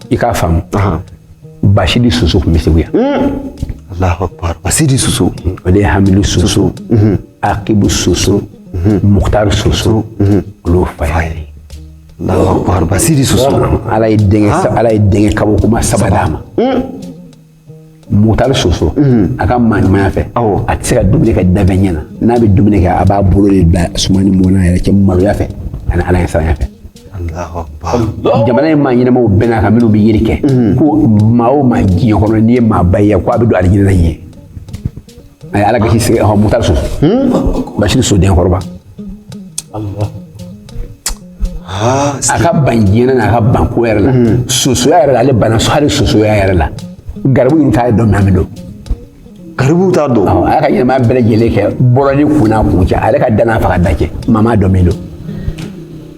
i k'a faamu basidi soso tun bɛ segu yan basidi soso o de ye hamidu soso akibu soso mukutari soso olu fa ye basidi soso ala ye denkɛ ala ye denkɛ kabakoma saba d'a ma mukutari soso mhm. a ka maaɲumanya fɛ a tɛ se ka dumuni kɛ danfɛn ɲɛ na n'a bɛ dumuni kɛ a b'a bolo de da suman ni mɔgɔ ɲɛ cɛ maloya fɛ ani ala ɲɛsiranya fɛ jamana in maa ɲɛnamaw bɛnn'a kan minnu bɛ yeli kɛ mhm. ko maa o maa diɲɛ kɔnɔ n'i ye maa ba ye ko a bɛ don alijinɛ na ɲɛ a ye ala gasi sigi ɔhɔn mutari so basiri so denkɔrɔba a ka ban diɲɛ na n'a ka ban ko yɛrɛ la sosoya yɛrɛ la ale bana hali sosoya yɛrɛ la garibu yɛrɛ t'a dɔn maa min don garibu t'a dɔn a y'a ka ɲɛnamaya bɛɛ lajɛlen kɛ bɔlɔni kunna kun cɛ ale ka danna faga da cɛ maa m'a dɔn min don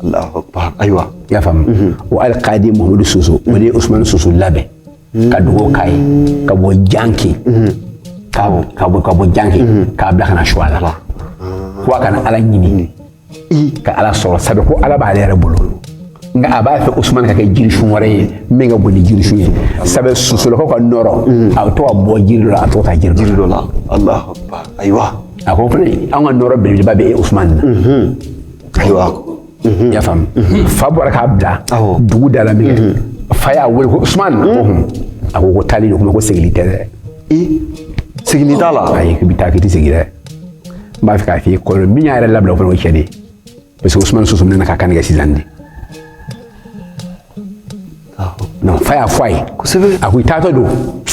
Alahu akbar ayiwa i y'a faamu mhm. o alikadi Muhamadu Soso o de ye Usumani Soso labɛn mhm. ka dugawu k'a ye mhm. ka bɔ janki ka bɔ ka bɔ ka bɔ janki k'a bila ka na Suwala ko a ka na Ala ɲini ka Ala sɔrɔ sabu ko Ala b'ale yɛrɛ bolo nka a b'a fɛ Usumani ka kɛ jirisun wɛrɛ ye min ka bon ni jirisun ye sabu sosolakaw ka nɔrɔ a bɛ to ka bɔ jiri dɔ la a bɛ to ka taa jiri dɔ la Alahu akbar ayiwa a ko fana an ka nɔrɔ belebeleba bɛ Usumani na. ayiwa mhm. y'a faamu mhm. fa bɔra k'a bila dugu da la min kɛ mhm. fa y'a wele ko usman a ko ko taali don kuma ko segili tɛ dɛ segili t'a la ayi k'i bɛ taa k'i tɛ segin dɛ n b'a fɛ k'a f'i ye kɔlɔlɔ min y'a yɛrɛ labila o fana o cɛ de ye parce que usman soso minɛna k'a kan tigɛ sisandi na fa y'a fɔ a ye kosɛbɛ a ko i taatɔ don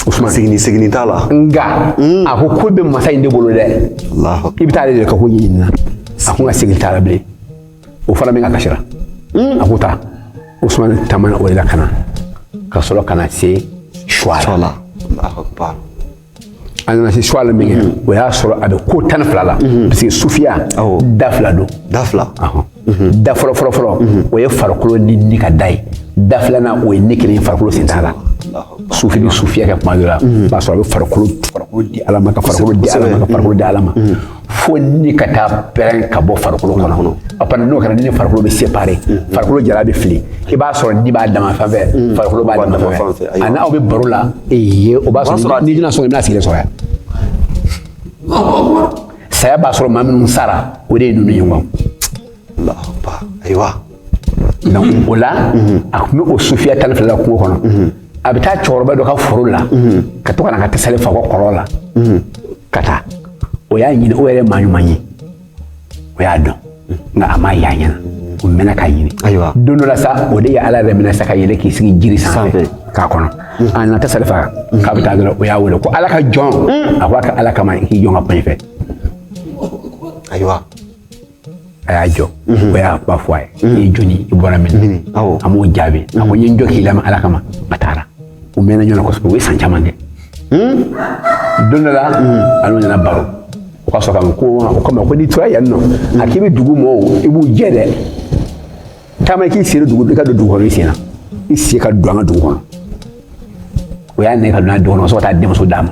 usumani seginni seginni t'a la nka mm. a ko ko bɛ masa in de bolo dɛ i bɛ taa ale de ka ko ɲini na a ko n ka segin t'a la bilen o fana bɛ n ka kasira mm. a ko taa usumani taamana o de la ka na ka sɔrɔ ka na se suwala a nana se suwala min kɛ o y'a sɔrɔ a bɛ ko tan ni fila la parce que sufiya da fila don da fila da fɔlɔ fɔlɔ fɔlɔ o ye farikolo ni ni ka da ye da filanan o ye ni kelen farikolo sen t'a la sufi bɛ sufiya kɛ kuma dɔ la o b'a sɔrɔ a bɛ farikolo farikolo di ala ma ka farikolo di ala ma ka farikolo di ala ma fo ni ka taa pɛrɛn ka bɔ farikolo kɔnɔ a panna n'o kɛra ni farikolo bɛ séparer mm. farikolo jalan bɛ fili i b'a sɔrɔ ni b'a dama fan fɛ mm. farikolo b'a dama fan fɛ ani aw bɛ baro la ee o b'a sɔrɔ ni jina sɔrɔ i bɛna sigilen sɔrɔ yan saya b'a sɔrɔ maa minnu sara o de ye ninnu ye wa Ayiwa o la a tun bɛ o sufiya tan fila kungo kɔnɔ a bɛ taa cɛkɔrɔba dɔ ka foro la ka to ka na ka tasale fa kɔlɔn na ka taa o y'a ɲini o yɛrɛ maa ɲuman ye o y'a dɔn nka a m'a ye a ɲɛ na o mɛnna k'a ɲini ayiwa don dɔ la sa o de ye ala yɛrɛ minɛ sa ka yɛlɛ k'i sigi jiri sanfɛ k'a kɔnɔ a nana tasale fa k'a bɛ taa dɔrɔn o y'a wele ko ala ka jɔn a ko a ka ala kama i k'i jɔ n ka pan fɛ ayiwa a y'a jɔ o y'a ba fɔ a ye i ye jɔni i bɔra min a m'o jaabi a ko n ye n jɔ k'i lamɛn ala kama a taara u mɛnna ɲɔgɔn na kosɛbɛ u ye san caman kɛ don dɔ la a n'u nana baro o ka sɔrɔ ka ko o kama ko n'i tora yan nɔ a k'i bɛ dugu mɔɔw i b'u jɛ dɛ taama i k'i seri dugu i ka don dugu kɔnɔ i sen na i sen ka don an ka dugu kɔnɔ o y'a nɛgɛ ka don a dugu kɔnɔ ka sɔrɔ ka taa denmuso d'a ma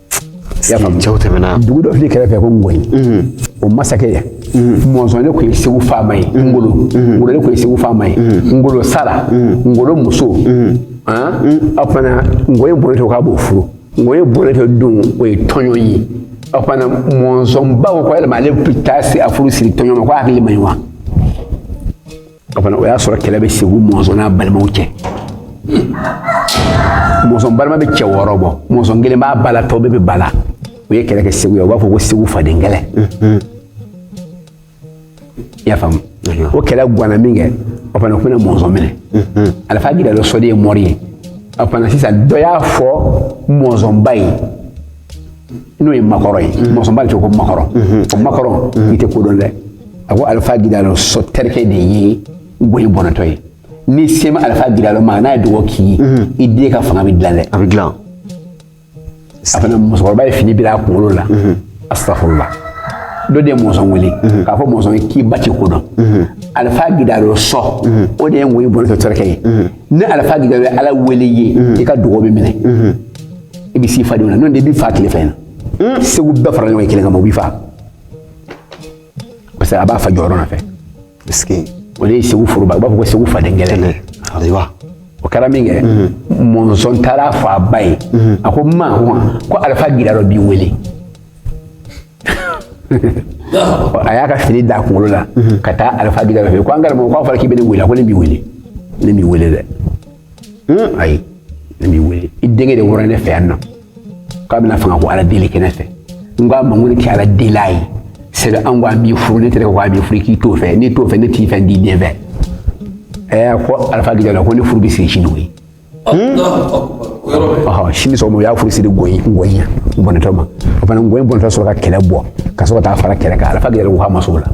cɛw tɛmɛna dugu dɔ filɛ kɛrɛfɛ ko ngɔyi o masakɛ mɔnzɔn de tun ye segu faama ye ngolo ngolo de tun ye segu faama ye ngolo sara ngolo muso o fana ngɔyi bɔnɛtɔ k'a b'o furu ngɔyi bɔnɛtɔ don o ye tɔɲɔn ye o fana mɔnzɔn ba ko yɛlɛma ale bɛ taa se a furu siri tɔɲɔn ma ko hakili man ɲi wa o fana o y'a sɔrɔ kɛlɛ bɛ segu mɔnzɔn n'a balimaw cɛ mɔnzɔn balima bɛ cɛ wɔɔrɔ bɔ mɔnzɔn kelen b'a ba la tɔw bɛɛ bɛ ba la u ye kɛlɛ kɛ segu ye u b'a fɔ ko segu faden kɛlɛ i y'a faamu o kɛlɛ ganna min kɛ o fana o fana mɔnzɔn minɛ alifa gidalo sɔ de ye mɔri ye o fana sisan dɔ y'a fɔ mɔnzɔn ba ye n'o ye makɔrɔ ye mɔnzɔn ba de tɔgɔ makɔrɔ o makɔrɔ i tɛ ko dɔn dɛ a ko alifa gidalo sɔ terikɛ de ye ngɔyi bɔnɛtɔ ye n'i sera alifa gidalo ma n'a ye duga k'i ye i den ka fanga bɛ dilan dɛ a bɛ dilan a fana musokɔrɔba ye fini bila a kunkolo la astafurula dɔ de ye mɔnzɔn wele k'a fɔ mɔnzɔn ye k'i ba tɛ ko dɔn alifa gidalo sɔ o de ye ngɔyi bɔnɛtɔ terikɛ ye ni alifa gidalo ye ala wele i ye i ka duga bɛ minɛ i bɛ s'i fadenw na n'o tɛ u b'i faa tile fɛ na hmm? segu bɛɛ fara ɲɔgɔn kelen kama u b'i faa parce que a b'a fa jɔyɔrɔ nɔfɛ o de ye segu foroba u b'a fɔ ko segu faden kɛlɛ ayiwa o kɛra min kɛ mɔnzɔn taara f'a ba ye a ko ma ko alifa gidalo b'i wele a y'a ka fini d'a kunkolo la ka taa alifa gidalo fɛ ko an karamɔgɔ k'a fɔra k'i bɛ ne wele a ko ne b'i wele ne b'i wele dɛ ayi ne b'i wele i denkɛ de wɔrɔ ne fɛ yan nɔ k'a bɛna fanga ko ala deli kɛ ne fɛ n ko a ma ko ne ka ala deli a ye sɛbɛ an ko a b'i furu ne tɛgɛ ko a b'i furu k'i t'o fɛ n'i t'o fɛ ne t'i fɛ n t'i den fɛ ɛɛ ko alifa gidalo ko ne furu bɛ siri sini koyi sini sɔgɔma u y'a furu siri gɔyi gɔyi yan bɔnɛtɔ ma o fana gɔyi bɔnɛtɔ sɔrɔ ka kɛlɛ bɔ ka sɔrɔ ka taa fara kɛlɛ kan alifa gidalo ko k'a ma s'o la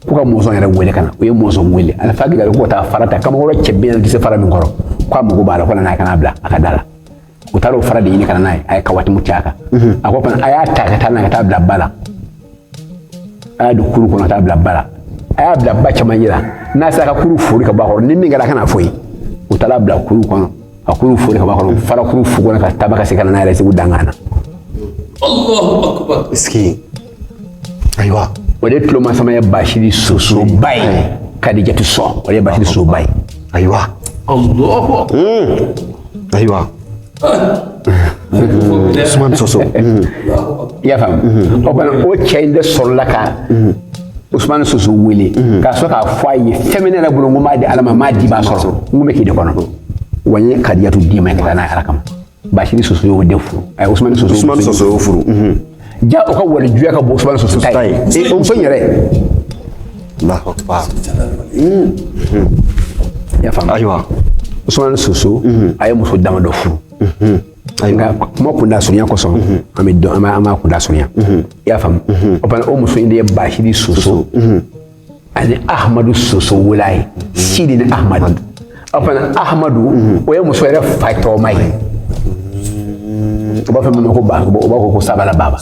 ko ka mɔnsɔn yɛrɛ wele ka na u ye mɔnsɔn wele alifa gidalo ko ka taa fara ta kamakɔrɔ cɛ bi naani tɛ se fara min kɔrɔ ko a mago b'a la ko nana a ka n'a bila a ka da la u taara o fara de ɲini ka na n'a ye a ye kawatimu cɛ a kan a ko fana a y'a ta ka taa n'a ye ka taa bila ba la a y'a don kuru kɔnɔ ka taa bila ba la a y'a bila ba camancɛ la n'a sera ka kuru fori ka bɔ a kɔrɔ ni min kɛra a ka n'a fɔ n ye u taara bila kuru kɔnɔ ka kuru fori ka bɔ a kɔrɔ fara kuru fogonna ka taa ba ka se ka na n'a yɛrɛ segu dankan na Allahu akbar. Est-ce que ayiwa o de tuloma sama ye basidi soso ba ye kadijatu sɔn o de ye basidi soso ba ye ayiwa ayiwa usumani soso i y'a faamu o fana o cɛ in de sɔrɔla ka usumani soso wele k'a sɔrɔ k'a fɔ a ye fɛn min ne yɛrɛ bolo n ko n b'a di ala ma n b'a di b'a sɔrɔ n ko n bɛ k'i de kɔnɔ wa n ye kadijatu d'i ma i ka taa n'a ye ala kama Basidi Soso y'o de furu ayi Ousmane Soso Ousmane Soso y'o furu ja o ka walijuya ka bon Ousmane Soso ta ye e o muso in yɛrɛ Allahu akbar i y'a faamu ayiwa Ousmane Soso a ye muso dama dɔ furu nka kuma kunda surunya kosɔn an bɛ dɔn an b'a an b'a kunda surunya i y'a faamu o fana o muso in de ye Basidi Soso ani ahmadu soso wolo a ye sidi ni ahmadu o fana ahmadu o ye muso yɛrɛ fa tɔgɔma ye u b'a fɔ min ma ko ba u b'a fɔ ko sabala baba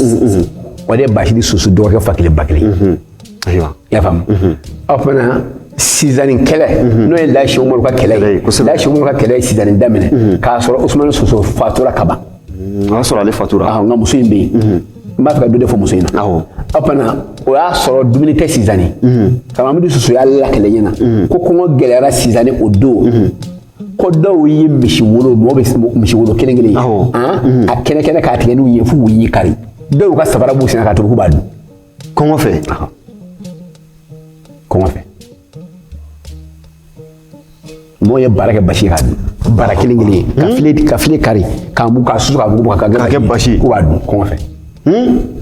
o de ye basidi soso dɔgɔkɛ fa kelen ba kelen ayiwa i y'a faamu o fana sinzani kɛlɛ n'o ye laji umaru ka kɛlɛ ye laji umaru ka kɛlɛ ye sinzani daminɛ k'a sɔrɔ usumani soso fatura ka ban o y'a sɔrɔ ale fatura ah, nka muso in bɛ yen mhm. n b'a fɛ ka dɔ de fɔ muso in na o fana o y'a sɔrɔ dumuni tɛ sinzani kamamidu mhm. soso y'a lakali n ɲɛ na mhm. ko kɔngɔ gɛlɛyara sinzani o don ko dɔw ye misi wolo mɔgɔ bɛ misi wolo kelen kelen ye ah, a kɛnɛ kɛnɛ k'a tigɛ n'u ye fo k'u ɲi kari dɔw ka sabara b'u senna k'a tobi k'u b'a dun kɔngɔ fɛ kɔngɔ fɛ mɔgɔ ye bara kɛ basi k'a dun bara kelen kelen ka hmm? file ka file kari k'a mugu k'a susu k'a mugu k'a kɛ basi k'u b'a dun kɔngɔ fɛ hmm?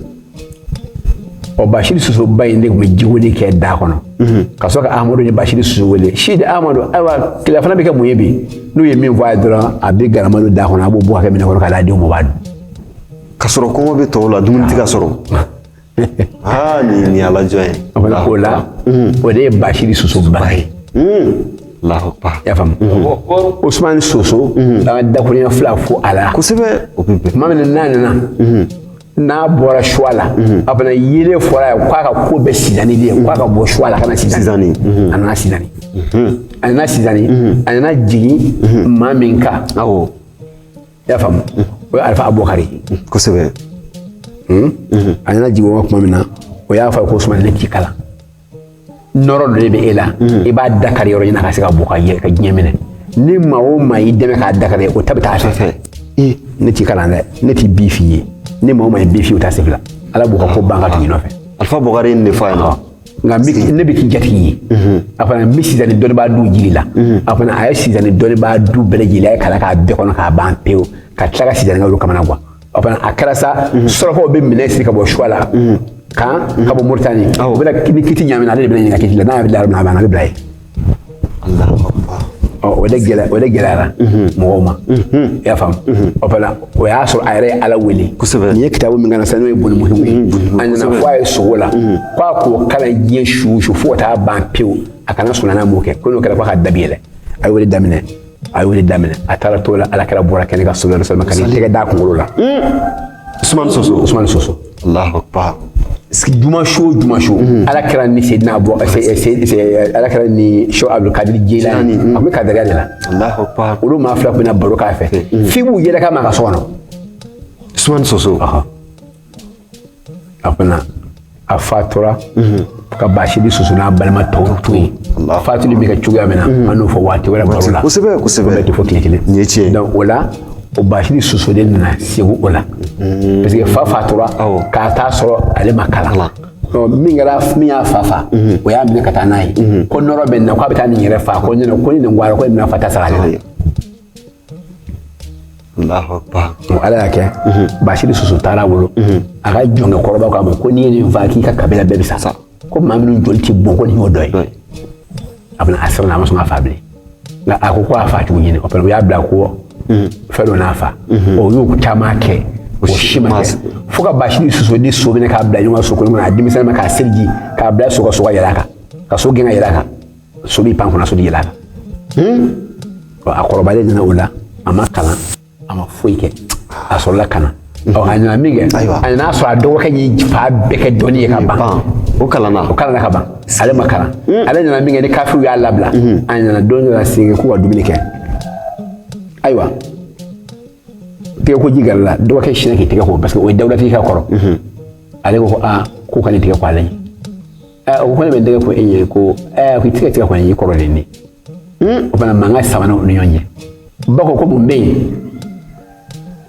ɔ basidi soso ba in de tun bɛ jiko de kɛ da kɔnɔ hmm. ka sɔrɔ ka amadu ni basidi soso wele sidi amadu ayiwa tilafana bɛ kɛ mun ye bi n'u ye min fɔ a ye dɔrɔn a bɛ galama don da kɔnɔ a b'o bɔ k'a kɛ minɛn kɔnɔ k'a d'a denw ma u b'a dun Ka sɔrɔ kɔngɔ bɛ tɔw la dumuni tɛ ka sɔrɔ aa nin ye nin y'ala jɔn ye o la o la o de ye Basiri Soso ba ye alahu akbar i y'a faamu Ousmane Soso an ka dakurunya fila fo a la kosɛbɛ o bɛ bɛn tuma min na n'a nana n'a bɔra Suwala a fana yeelen fɔra ye k'a ka ko bɛɛ Sinzani de ye k'a ka bɔ Suwala ka na Sinzani Sinzani, a nana Sinzani a nana Sinzani a nana jigin maa min kan awɔ i y'a faamu o ye alifa abukari kosɛbɛ a nana jigin o tuma min na o y'a fɔ ko usumani ne t'i kalan nɔrɔ dɔ de bɛ e la i b'a dakari yɔrɔ ɲini ka se ka bɔ ka yɛlɛ ka diɲɛ minɛ ni maa o maa y'i dɛmɛ k'a dakari o ta bɛ taa fɛ ne t'i kalan dɛ ne tɛ bi f'i ye ni maa o maa ye bi f'i ye o t'a sɛbɛn ala b'o ka ko ban ka tugu i nɔfɛ alifa bɔkari ye nin de fɔ a ɲɛna nka ne bɛ k'i jatigi ye a fana n bɛ Sinzani dɔnnibaa du jir'i la a fana a ye Sinzani dɔnnibaa du bɛɛ lajɛlen a ye kalan k'a bɛɛ kɔnɔ k'a ban pewu ka tila ka Sinzanika olu kamana gwan a fana a kɛra sa surakaw bɛ minan siri ka bɔ Suwala kan ka bɔ moritani u bɛna ni kiti ɲamina ale de bɛna ɲininka kiti la n'a y'a bila yɔrɔ min na a bɛ bila yen o de gɛlɛ o de gɛlɛyara mhm. mɔgɔw ma mhm. i y'a faamu mhm. o fana o y'a sɔrɔ a yɛrɛ ye ala wele kosɛbɛ nin ye kitabu min kana sisan n'o ye bolimuhimu ye a nana fɔ a ye sugo la ko a k'o kalan diɲɛ su o su fo ka taa ban pewu a kana sunɔgɔ n'a m'o kɛ ko n'o kɛra ko a ka da bɛ yɛlɛ a y'o de daminɛ a y'o de daminɛ a taara t'o la ala kira bɔra kɛnɛ ka sɔlɔ dɔ sɔrɔ ka n'i tɛgɛ d'a kunkolo la usumani soso usumani soso alahu akbar juma su o juma su ala kira ni sedina bɔ ala kira ni sɛki abdulkadir jilani a bɛ kadariya de la alahu akbar olu maa fila bɛ na baro k'a fɛ f'i b'u yɛlɛkan mɛn a ka so kɔnɔ usumani soso a fana a fatura ka Basiri Soso n'a balima tɔw to yen fatuli bɛ kɛ cogoya min na an n'o fɔ waati wɛrɛ baro la kosɛbɛ kosɛbɛ bɛɛ tɛ fɔ tile kelen nin ye tiɲɛ donc o la o Basiri Soso de nana segu o la parce que fa fatura k'a t'a sɔrɔ ale ma kalan donc min kɛra min y'a fa fa o y'a minɛ ka taa n'a ye ko nɔrɔ bɛ nin na k'a bɛ taa nin yɛrɛ fa ko ɲɛna ko ni nin bɔra ko nin bɛna fa ta sara ale la Ala y'a kɛ Basiri Soso taara bolo a ka jɔnkɛ kɔrɔba k'a ma ko n'i ye nin faa k'i ka kabila bɛɛ bɛ sa sa ko maa minnu joli tɛ bɔn ko nin y'o dɔ ye a bɛna a siranna a ma sɔn ka fa bilen nka a ko ko a fa cogo ɲini o u y'a bila ko fɛn dɔ n'a fa o y'u caman kɛ o si ma kɛ fo ka Basiri Soso ni so minɛ k'a bila ɲɔgɔn kan so kɔnɔ a denmisɛnninma k'a seliji k'a bila so ka so ka yɛlɛ a kan ka so gɛn ka yɛlɛ a kan so b'i pan kunna so yɛlɛ la a kɔrɔbalen nana o la a ma kalan a ma foyi kɛ a sɔrɔla ka na ɔ a nana min kɛ a nana sɔrɔ a dɔgɔkɛ y'i fan bɛɛ kɛ dɔnni ye ka ban o kalanna o kalanna ka ban ale ma kalan ale nana min kɛ ni kafiriw y'a labila a nana don dɔ la segin k'u ka dumuni kɛ ayiwa tɛgɛ ko ji gɛrɛla dɔgɔkɛ sinna k'i tɛgɛ ko parce que o ye dawulatigi ka kɔrɔ ale ko ko aa k'o kana i tɛgɛ ko ale ɲɛ ɛ o ko ne bɛ tɛgɛ ko e ɲɛ ko ɛ k'i tɛgɛ tɛgɛ ko ne y'i kɔrɔ de ye o fana mankan sabanan o ni ɲɔgɔn cɛ ba ko ko mun bɛ yen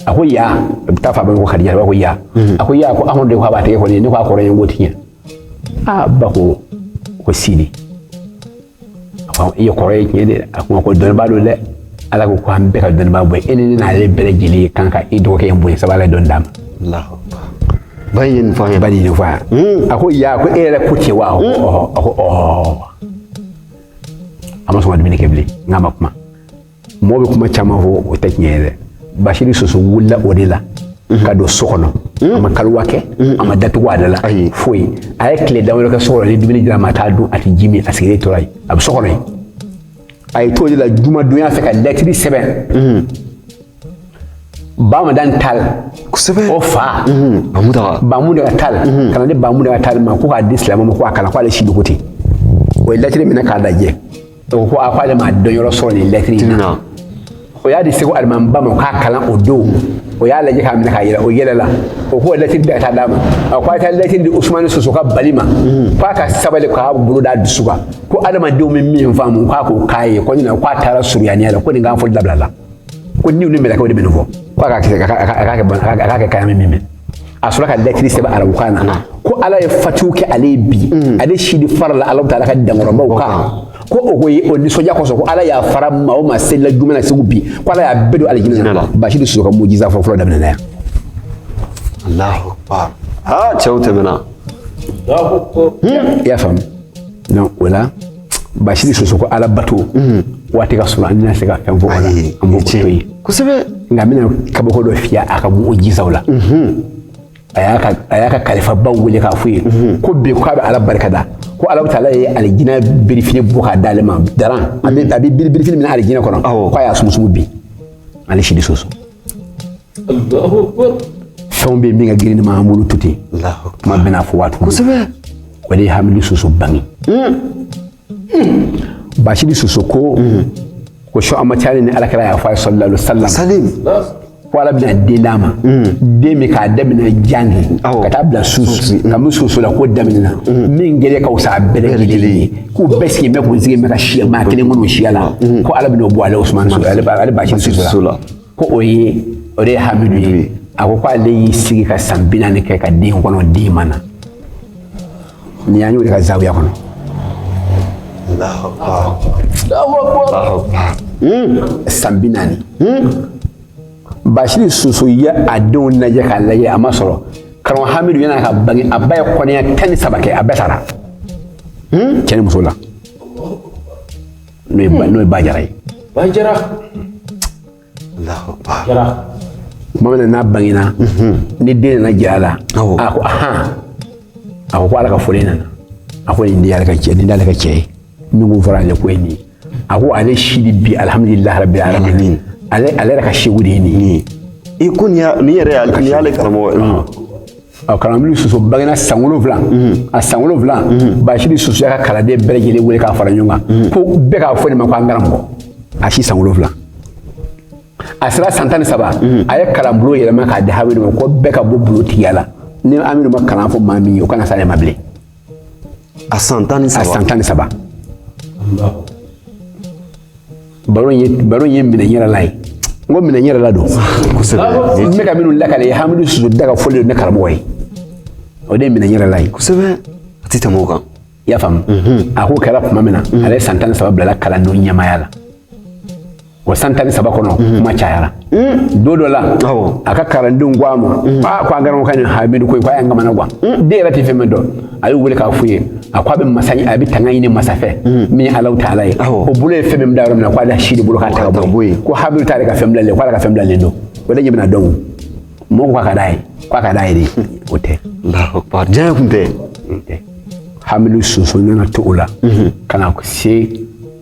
a ko ya a bɛ taa fa ba ko kadija ba ko ya a ko ya ko amadu de ko a b'a tɛgɛ ko ne ɲɛ ko a kɔrɔ ye n ko tiɲɛ aa ba ko ko sidi i ye kɔrɔ ye tiɲɛ de a ko ko dɔnnibaa don dɛ ala ko ko an bɛɛ ka dɔnnibaa bonya e ni n'ale bɛɛ lajɛlen kan ka i dɔgɔkɛ in bonya sabu ala ye dɔnni d'a ma ba ye nin fɔ ye ba ye nin fɔ yan hmm. a ko ya ko e yɛrɛ ko tiɲɛ wa hmm. a ko ɔɔ a ma sɔn ka dumuni kɛ bilen nka a ma kuma mɔgɔ bɛ kuma caman fɔ o tɛ tiɲɛ ye dɛ basiri soso wulila o de la ka don so kɔnɔ a ma kaliwa kɛ a ma da tugu a da la foyi a ye tile dawolo kɛ so kɔnɔ ni dumuni dira a ma a t'a dun a tɛ ji min a sigilen tora yen a bɛ so kɔnɔ yen a ye t'o de la jumadonya fɛ ka lɛtiri sɛbɛn bamadani tal kosɛbɛ o fa bamuntaga bamuntaga tal ka n'a di bamuntaga tal ma ko k'a di silamɛw ma ko a kalan k'ale sidi ko ten o ye lɛtiri minɛ k'a lajɛ o ko a ko ale ma dɔn yɔrɔ sɔrɔ nin lɛtiri in na o y'a di segu alimamiba ma k'a kalan o don o y'a lajɛ k'a minɛ k'a yɛlɛ o yɛlɛla o ko lɛtiri bɛɛ ka taa d'a ma a ko a taa lɛtiri di usumani soso ka bali ma k'a ka sabali k'a bolo d'a dusu kan ko adamadenw bɛ min faamu k'a k'o kan ye ko ɲina k'a taara suriyaniya la ko nin kan fɔli dabilala ko niw ni mɛlɛkɛw de bɛ nin fɔ k'a k'a kɛ kan ye an bɛ min mɛn a sɔrɔ ka lɛtiri sɛbɛn arabukan na ko ala ye fatiw kɛ ale ye bi ale sidi farala ala taala ka dankɔrɔbaw kan ko o ko ye o nisɔndiya kosɔn ko ala yafara maa o maa selila juma na segu bi ko ala y'a bɛɛ don alijinɛ na basiri soso ka mujiza fɔ fɔlɔ daminɛna yan alahu akbar aa cɛw tɛmɛna i y'a faamu donc o la Basiri soso ko ala bato mm. waati ka surun an tɛna se ka fɛn fɔ nka n bɛna kabako dɔ f'i ye a ka mujizaw la mm-hmm. a y'a ka kalifabaw wele k'a f'u ye mm-hmm. ko bi k'a bɛ ala barika da ko ala taala ye alijinɛ birifini bɔ k'a d'ale ma dara a bɛ birifini min na alijinɛ kɔnɔ ko a y'a sumusumu bi ale sidi soso fɛnw bɛ yen min ka girin n'i ma an bolo to ten kuma bɛna fɔ waati kosɛbɛ o de ye hamidu soso bange basidi soso ko ko sɔ an ma caya ni alakira y'a fɔ a ye sallallahu alaihi wa sallam ko ala bɛna den d'a ma den min k'a daminɛ jange ka taa bila soso ka min soso la k'o daminɛna min gɛlɛ ka wusa a bɛɛ lajɛlen ye k'u bɛɛ sigilen bɛ k'u sigilen bɛ ka siya maa kelen kɔnɔ siya la ko ala bɛna o bɔ ale usumani soso ale basidi soso la ko o ye o de ye hamidu ye a ko k'ale y'i sigi ka san bi naani kɛ ka den kɔnɔ den ma na nin y'an y'o de ka zawiya kɔnɔ hmm. san bi naani hmm. basidi soso ye a denw lajɛ k'a lajɛ a ma sɔrɔ karamɔgɔ hamidu yan'a ka bange a ba ye kɔnɔya tan ni saba kɛ a bɛɛ sara hmm. cɛ ni muso la n'o ye ba- n'o ye ba jara ye ba jara jara tuma min na n'a bangena ni den nana jira a la Awɔ. a ko ahan a ko ko ala ka fɔlen nana a ko nin de y'ale ka cɛ nin y'ale ka cɛ ye min ko fɔra ale ko ye nin ye a ko ale sidi bi alihamudulilahi rabi alamin ale ale yɛrɛ ka seku de ye nin ye i ko nin y'a- nin yɛrɛ y'ale nin y'ale karamɔgɔ ye ɔ karamɔgɔ hamidu soso bangena san wolonwula a san wolonwula basidi soso y'a ka kalanden bɛɛ lajɛlen wele k'a fara ɲɔgɔn kan ko bɛɛ k'a fɔ nin ma ko an karamɔgɔ a si san wolonwula a sera san tan ni saba a ye kalanbulon yɛlɛma k'a di hamidu ma ko bɛɛ ka bɔ bulontigiya la ni hamidu ma kalan fɔ maa min ye o kana s'ale ma bilen a san tan ni saba a san tan ni saba baro ye baro ye minɛ yɛrɛ la ye n ko minɛ yɛrɛ la don kosɛbɛ n bɛ ka minnu lakale ye hamidu soso da ka fɔlen don ne karamɔgɔ ye o de ye minɛ yɛrɛ la ye kosɛbɛ a tɛ tɛmɛ o kan i y'a faamu a k'o kɛra tuma min na ale san tan ni saba bilala kalandenw ɲɛmaaya la o san tan ni saba kɔnɔ mhm. kuma cayara mhm. don dɔ la a ka kalandenw ko a ma mhm. a ko an karamɔgɔ nin hamidu ko k'a y'an kamana gan den yɛrɛ tɛ fɛn min dɔn a y'u wele k'a f'u ye a ko a bɛ masa a bɛ tanga ɲini masa fɛ min ye alahu taala ye o bolo ye fɛn min da yɔrɔ min na k'ale sidi bolo k'a ta ka bɔ yen ko hamidu t'ale ka fɛn bilalen k'ala ka fɛn bilalen don o de ɲɛ bɛna dɔn mɔgɔ ko a ka d'a ye k'a ka d'a ye de o tɛ diɲɛ kun tɛ hamidu soso nana to o la ka na se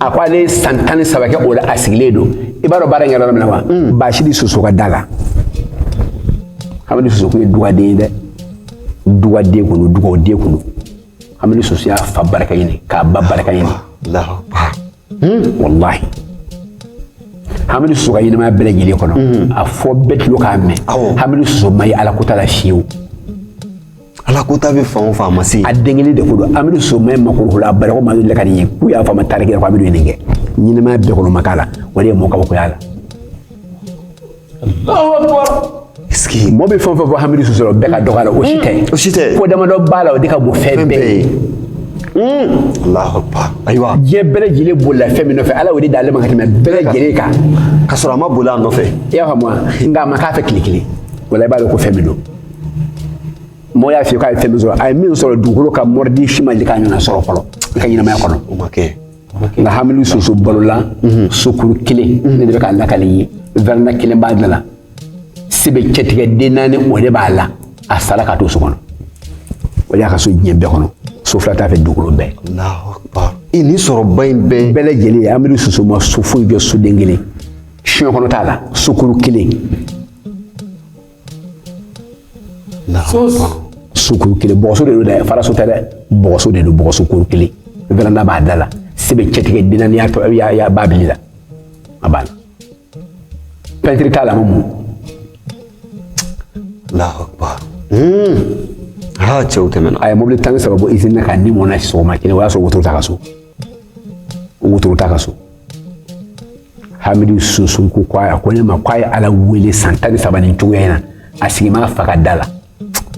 a ko ale san tan ni saba kɛ o la a sigilen don i b'a dɔn baara in kɛra yɔrɔ min na wa hmm. basidi soso ka da la hamidu soso kun ye dugaden ye dɛ dugaden kun don dugaden kun don hamidu soso y'a fa barika ɲini k'a ba barika ɲini hmm. walahi hamidu soso ka ɲɛnamaya bɛɛ lajɛlen kɔnɔ hmm. a fɔ bɛɛ tulo k'a mɛn hamidu soso ma ye ala ko t'a la fiyewu ala ko ta bɛ fan o fan ma se a den kelen de ko don hamidu soso ma ye makoro la a barako ma deli ka nin ye k'u y'a fɔ a ma tariki la ko hamidu ye nin kɛ ɲɛnamaya bɛɛ kɔnɔ ma k'a la o de ye mɔgɔ kabakoya la mɔɔ bɛ fɛn o fɛn fɔ hamidu soso la o bɛɛ ka dɔgɔ la o si tɛ o si tɛ ko damadɔ b'a la o de ka bon fɛn bɛɛ ye ayiwa diɲɛ bɛɛ lajɛlen bolila fɛn min nɔfɛ ala y'o de d'ale ma ka tɛmɛ bɛɛ lajɛlen kan ka sɔrɔ a ma boli a nɔfɛ i y'a faamu wa nka a ma k'a fɛ tile kelen wala i b'a dɔn ko fɛn min don Mɔgɔ y'a fɔ k'a ye fɛn sɔrɔ a ye min sɔrɔ dugukolo kan mori si ma deli k'a ɲɔgɔnna sɔrɔ fɔlɔ i ka ɲɛnamaya kɔnɔ nka hamidu soso balola mhm. sokuru kelen mhm. ne de bɛ k'a lakali i ye veranda kelen b'a da la sebe cɛtigɛ den naani o de b'a la a sara ka to so kɔnɔ o y'a ka so diɲɛ bɛɛ kɔnɔ so fila t'a fɛ dugukolo bɛɛ i ni sɔrɔba in bɛɛ bɛɛ lajɛlen hamidu soso ma so foyi jɔ soden kelen diɲɛ kɔnɔ t'a la sokuru kelen sokuru kelen bɔgɔso de don dɛ faraso tɛ dɛ bɔgɔso de don bɔgɔso kuru kelen veranda b'a da la sebe cɛtigɛ den naani y'a ba bili la a banna pɛntiri t'a la mun allahu akbar cɛw tɛmɛna a ye mobili tan ni saba bɔ izini na k'a ni mɔgɔ na sɔgɔma kelen o y'a sɔrɔ wotoro t'a ka so wotoro t'a ka so hamidu soso ko ko a ko ne ma ko a ye ala wele san tan ni saba nin cogoya in na a sigi ma fa ka da la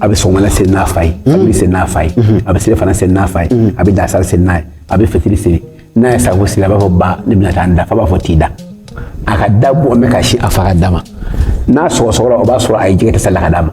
a bɛ sɔgɔmada seli n'a fa ye a bɛ seli n'a fa ye a bɛ selifana seli n'a fa ye a bɛ lansara seli n'a ye a bɛ fitiri seli n'a ye saafo seli a b'a fɔ ba ne bɛna taa n da fa b'a fɔ t'i da a ka da bɔ mɛ ka si a fa ka da ma n'a sɔgɔsɔgɔra o b'a sɔrɔ a ye ji kɛ tasalen na ka d'a ma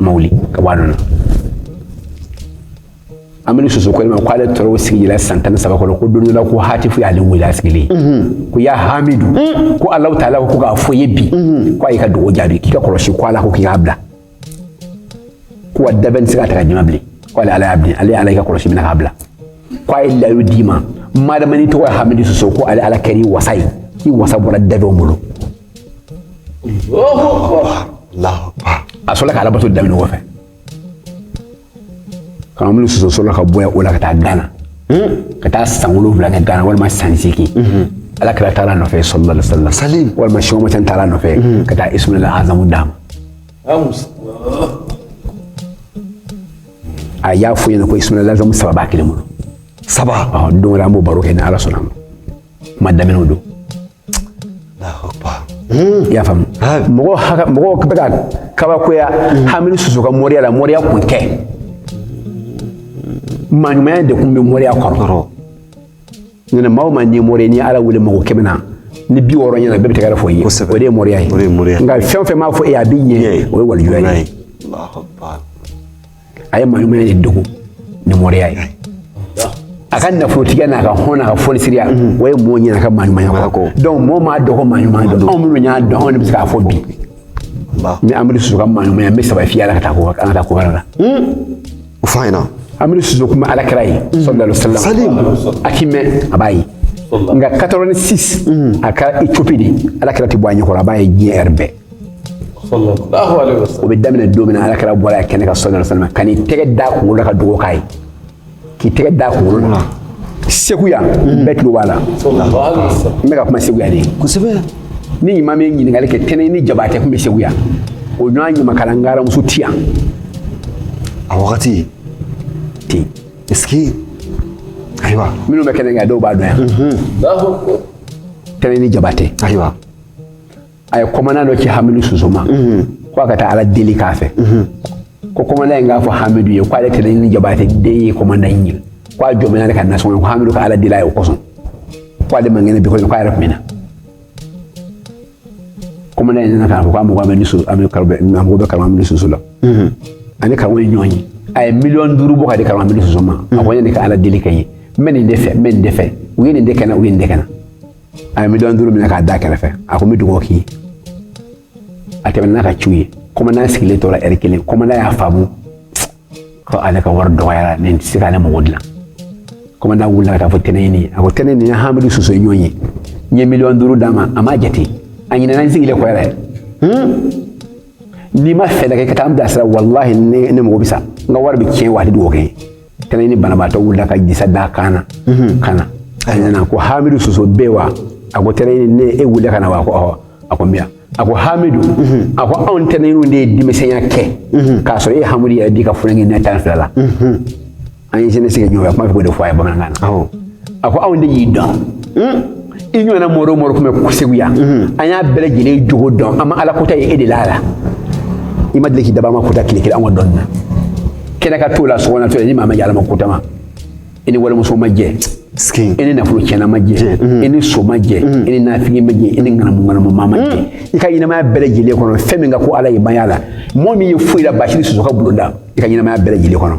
ma wuli ka bɔ a nɔ na hamidu soso ko n ma ko ale tora o sigi la san tan ni saba kɔnɔ ko don dɔ la ko hatifu y'ale wele a sigilen ko ya hamidu ko allahu taala ko k'a fɔ i ye bi ko a y'i ka dugawu jaabi k'i ka kɔlɔsi ko ala ko k'i k'a bila ko wa danfɛn tɛ se ka ta ka jama bilen ko ale ala y'a bilen ale ala y'i ka kɔlɔsi minɛ k'a bila ko a ye layidu d'i ma madama ni tɔgɔ ye hamidu soso ko ale ala kɛra i wasa ye i wasa bɔra danfɛnw bolo a sɔrɔ ka alabato daminɛ ɲɔgɔn fɛ k'an bolo soso sɔrɔ ka bɔ o la ka taa gana ka taa san wolonwula kɛ gana walima san seegin ala kira taara a nɔfɛ sallallahu alayhi wasallam sali walima sɔgɔma cɛ taara nɔfɛ ka taa isuma la azamu d'a ma a y'a fɔ n ɲɛna ko isuma la azamu saba b'a kelen bolo saba don wɛrɛ an b'o baro kɛ ni ala sɔnna ma kuma daminɛw don Hmm. y'a faamu mɔgɔ haka mɔgɔ bɛ ka kabakoya hmm. hamidu susu ka mɔriya la mɔriya kun tɛ maɲumanya de kun bɛ mɔriya kɔrɔ ɲinɛ maa o maa n'i mɔri n'i ala wele mɔgɔ kɛmɛ na ni bi wɔɔrɔ ɲɛna bɛɛ bɛ tɛgɛrɛ fɔ i ye o de ye mɔriya ye nka fɛn o fɛn b'a fɔ e a bɛ ɲɛ o ye walijuya ye a ye maɲuman de dogo ni mɔriya ye a ka nafolotigiya n'a ka hɔn n'a ka fonisiriya o ye mɔɔ ɲina a ka maɲumanya kɔ donc mɔɔ m'a dɔn ko maɲuman don anw minnu y'a dɔn anw de bɛ se k'a fɔ bi n bɛ hamidu susu ka maɲumanya n bɛ saba fɔ a la ka taa ko an ka taa ko wɛrɛ la o fɔ an ɲɛna hamidu susu kun bɛ ala kira ye sallallahu alaihi wasallam a k'i mɛn a b'a ye nka 86 a kɛra ethiopie de ala kira tɛ bɔ a ɲɛkɔrɔ a b'a ye diɲɛ yɔrɔ bɛɛ o bɛ daminɛ don min na ala kira bɔra kɛnɛ kan sallallahu alaihi wasallam ka n'i tɛgɛ d'a kunkolo la ka dugawu k'a ye k'i tɛgɛ d'a kunkolo la segu yan bɛɛ tulo b'a la n bɛ ka kuma segu yan de kosɛbɛ n'i mana ɲininkali kɛ tɛnɛni jabatɛ kun bɛ segu yan o ɲɔgɔn ɲamakala ngaramuso ti yan a wagati ten est ce que ayiwa minnu bɛ kɛnɛ kan dɔw b'a dɔn yan tɛnɛni jabatɛ ayiwa a ye kɔmanda dɔ ci hamidu susu ma ko a ka taa ala deli k'a fɛ ko kɔmanda in k'a fɔ hamidu ye k'ale tɛnɛni jabatɛ den ye kɔmanda in ye ko a jɔmina ale ka nasɔn ye ko hamidu ka ala deli a ye o kosɔn ko ale man kɛnɛ bi kɔni ko a yɛrɛ tun bɛ na kɔmanda in nana k'a fɔ k'a mago bɛ ni su a bɛ karamɔ a mago bɛ karamɔ hamidu susu la a ni karamɔ ye ɲɔgɔn ye a ye miliyɔn duuru bɔ k'a di karamɔ hamidu susu ma a ko ne ka ala deli k'a ye n bɛ nin de fɛ n bɛ nin de fɛ u ye nin de kɛ n na u ye nin de kɛ n na a ye miliyɔn duuru minɛ k'a da kɛrɛfɛ a ko n bɛ dugawu k'i ye a tɛmɛna n'a ka ciw ye kɔmanda sigilen tora ɛri kelen kɔmanda y'a faamu ko ale ka wari dɔgɔyara nin tɛ se k'ale mago dilan kɔmanda wulila ka taa fɔ tɛnɛni ye a ko tɛnɛni ne ni hamidu soso ye ɲɔgɔn ye n ye miliyɔn duuru d'a ma a m'a jate a ɲinɛna n sigilen kɔ yɛrɛ n'i ma fɛɛrɛ kɛ ka taa n bilasira walahi ne mago bɛ sa n ka wari bɛ tiɲɛ wa a tɛ dugawu kɛ n ye tɛnɛni banabaatɔ wulila ka disa d'a kan na mhm. ka na a nana ko hamidu soso bɛ wa a ko tɛnɛni ne e wulila ka na wa a ko ɔhɔ a ko miya a ko hamidu mhm. a ko anw tɛnɛniw de ye denmisɛnya kɛ mhm. k'a sɔrɔ e hamidu yɛrɛ d'i ka funankɛninya tan fila la an ye sini sigiɲɔgɔnya kuma fɛ k'o de fɔ a ye bamanankan na a ko an de y'i dɔn i ɲɔgɔnna mɔri o mɔri tun bɛ segu yan an y'a bɛɛ lajɛlen jogo dɔn an ma ala kota ye e de la a la i ma deli k'i daba ma kota tile kelen an ka dɔnni na kɛnɛ ka t'o la sɔgɔna to ni maa ma yala ma kota ma i ni walimuso ma jɛ i ni nafolo tiɲɛna ma jɛ i ni son ma jɛ i ni nafigi ma jɛ i ni ŋanamu ŋanamu maa ma jɛ i ka ɲɛnamaya bɛɛ lajɛlen kɔnɔ fɛn min ka go ala ye maya la mɔgɔ m'i ye foyi la basiru soso ka bulonda i ka ɲɛnamaya bɛɛ lajɛlen kɔnɔ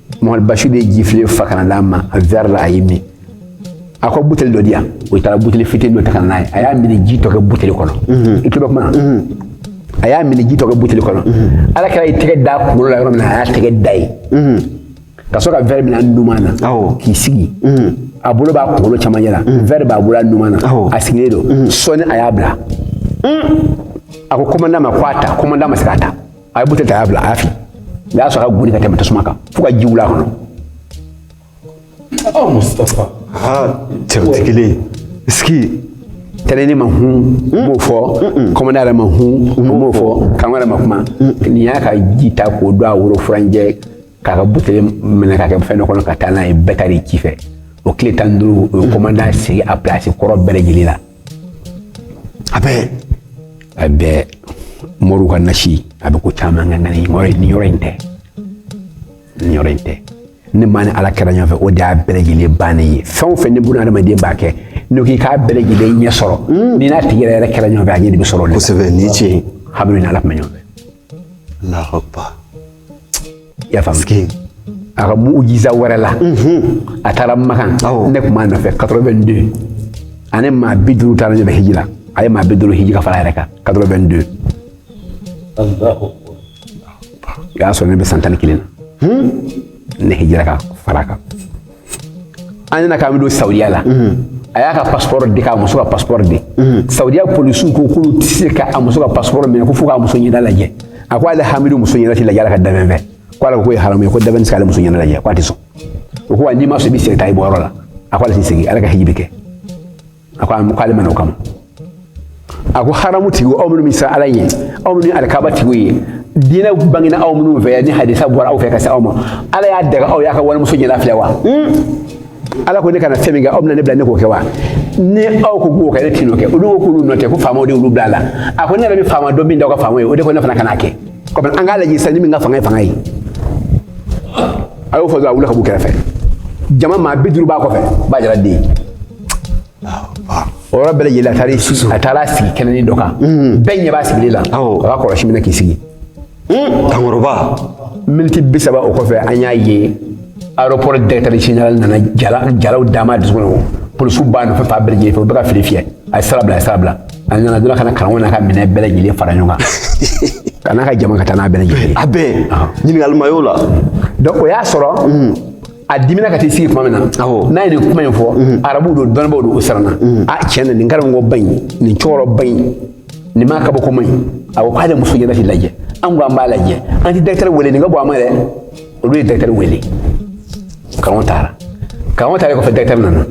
Mamadu Basiru de ye jifilen fa ka na d'a ma a verre la a y'i min a ko bouteille dɔ di yan o taara bouteille fitini dɔ ta ka na n'a ye a y'a minniji tɔ kɛ bouteille kɔnɔ i tulo bɛ kuma na a y'a minniji tɔ kɛ bouteille kɔnɔ ala kira y'i tɛgɛ da kunkolo la yɔrɔ min na a y'a tɛgɛ da yen ka sɔrɔ ka verre minɛ numan na k'i sigi a bolo b'a kunkolo camancɛ la verre b'a bolo a numan na a sigilen don sɔɔni a y'a bila a ko commandant ma ko a ta commandant ma se k'a ta a ye buteli ta a y'a bila a y'a fili a y'a sɔrɔ a ka goni ka tɛmɛ tasuma kan fo ka ji wuli a kɔnɔ aw mustafa cɛw tɛ kelen ye sigi tɛnɛni ma hun n b'o fɔ kɔmandan yɛrɛ ma hun n b'o fɔ kan wɛrɛ ma kuma nin y'a ka ji ta k'o don a woro furancɛ k'a ka buteli minɛ k'a kɛ fɛn dɔ kɔnɔ ka taa n'a ye bɛɛ taara ci fɛ o tile tan ni duuru o ye kɔmandan sigi a pilasi kɔrɔ bɛɛ lajɛlen la a bɛ a bɛ moriw ka nasi a bɛ ko caman ɲɛ nka ni yɔrɔ in yɔrɔ in tɛ ni yɔrɔ in tɛ ni maa ni ala kɛra ɲɔgɔn fɛ o de y'a bɛɛ lajɛlen bannen ye fɛn o fɛn ni bunadamaden b'a kɛ n'o k'i k'a bɛɛ lajɛlen ɲɛ sɔrɔ hmm. n'i n'a tigi yɛrɛ yɛrɛ kɛra ɲɔgɔn fɛ a ɲɛ de bɛ sɔrɔ o de la kosɛbɛ ni tiɲɛ ye hamidu ni ala tun bɛ ɲɔgɔn fɛ Ya a ka mujiza wɛrɛ la a taara makan ne tun b'a nɔfɛ quatre-vingt-deux a ni maa bi duuru taara ɲɔgɔn fɛ hiji la a ye maa bi duuru hiji ka fara a yɛrɛ kan quatre-vingt-deux o y'a sɔrɔ ne bɛ san tan ni kelen na ne hijira ka fara a kan an nana k'an bɛ don saudiya la a y'a ka passeport di k'a muso ka passeport di saudiya polisiw ko k'olu tɛ se ka a muso ka passeport minɛ ko fo k'a muso ɲɛda lajɛ a ko ale hamidu muso ɲɛda tɛ lajɛ ala ka danfɛn fɛ ko ala k'o ye haramu ye ko danfɛn tɛ se k'ale muso ɲɛda lajɛ ko a tɛ sɔn o ko wa n'i ma sɔn i bɛ segin taa i bɔyɔrɔ la a ko ale tɛ segin ala ka hiji bɛ kɛ a ko a ko ale ma na o kama a ko haramu tigiw aw minnu bɛ siran ala ye aw minnu ye alikaba tigiw ye diinɛ bangena aw minnu fɛ yan ni hadisa bɔra aw fɛ ka se anw ma ala y'a daga aw ye ka wali muso ɲɛda filɛ wa ala ko ne kana fɛn min kɛ aw bɛna ne bila ne k'o kɛ wa ni aw ko k'o kɛ ne tɛn'o kɛ olu ko k'olu nɔ tɛ ko faamaw de y'olu bila a la a ko ne yɛrɛ bɛ faama dɔn min da aw ka faama ye o de ko ne fana kana kɛ kɔmi an k'a lajɛ sisan ni min ka fanga ye fanga ye a y'o fɔ dɔrɔn a wulila ka b'u kɛrɛfɛ jama maa bi duuru b'a kɔfɛ b'a jira den o yɔrɔ bɛɛ lajɛlen a taara i sigi a taara sigi kɛnɛnin dɔ kan bɛɛ ɲɛ b'a sigilen la a b'a kɔlɔsi minɛ k'i sigi kankɔrɔba miniti bi saba o kɔfɛ an y'a ye aéroport directeur général nana jala jalaw dama dusukun na polisiw b'a nɔfɛ fan bɛɛ lajɛlen fɛ u bɛ ka file fiyɛ a ye sira bila a ye sira bila a nana dɔrɔn ka na karamɔgɔ n'a ka minɛn bɛɛ lajɛlen fara ɲɔgɔn kan ka n'a ka jama ka taa n'a bɛɛ lajɛlen a bɛɛ ɲininkali ma y'o la donc o y'a sɔrɔ a dimina ka t'i sigi tuma min na n'a ye nin kuma in fɔ mhm. arabuw don dɔnnibaw don u siranna mhm. a tiɲɛ na nin karamɔgɔba in nin cɛkɔrɔ ba in nin maa kabakoma in a ko k'ale muso ɲɛna t'i lajɛ an ko an b'a lajɛ an tɛ directeur wele nin ka bon an ma dɛ olu ye directeur wele karamɔgɔ taara karamɔgɔ taara kɔfɛ directeur nana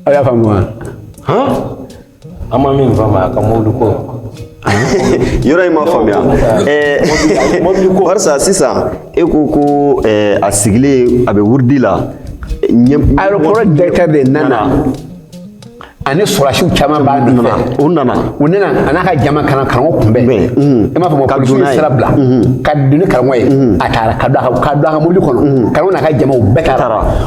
aw y'a faamu wa An ma min faamu a ka mobili ko yɔrɔ in ma faamuya barisa sisan e ko ko a sigilen a bɛ wurudi la aéroport directeur de nana ani sɔrɔdasiw caman b'a nɔfɛ u nana u nana a n'a ka jama ka na karamɔgɔ kunbɛn i m'a faamu polisiw ye sira bila ka don ni karamɔgɔ ye a taara ka don a ka mobili kɔnɔ karamɔgɔ n'a ka jamaw bɛɛ taara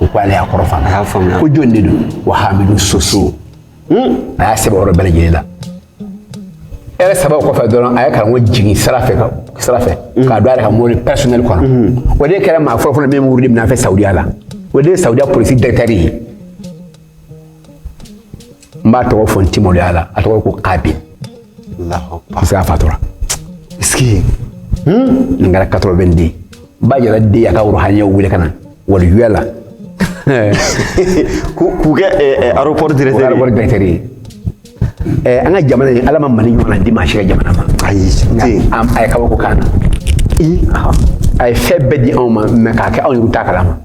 u ko ale y'a kɔrɔ faamuya a y'a faamuya ko jɔn de don wa hamidu soso hmm? a y'a sɛbɛn yɔrɔ bɛɛ lajɛlen na ɛrɛ sababu kɔfɛ dɔrɔn a ye karamɔgɔ jigin sira fɛ sira fɛ hmm. k'a don a yɛrɛ ka mobili personnel kɔnɔ hmm. o de kɛra maa fɔlɔ fɔlɔ min bɛ wurudi minɛ a fɛ sawudiya la o de ye sawudiya polisi directeur ye n b'a tɔgɔ fɔ n ti maloya la a tɔgɔ ko kabi parce que a fatura sigi hmm? nin kɛra 90 ba yɛrɛ de y'a ka worohaniyaw wele ka na waliyuya la k'u kɛ eh, eh, aéroport directeur ye aéroport directeur ye eh, an ka jamana in ala ma mali ɲɔgɔnna di maa si ka jamana ma ayi a ye kabako k'an na a ye fɛn bɛɛ di anw ma mais k'a kɛ anw yɛrɛ t'a kalama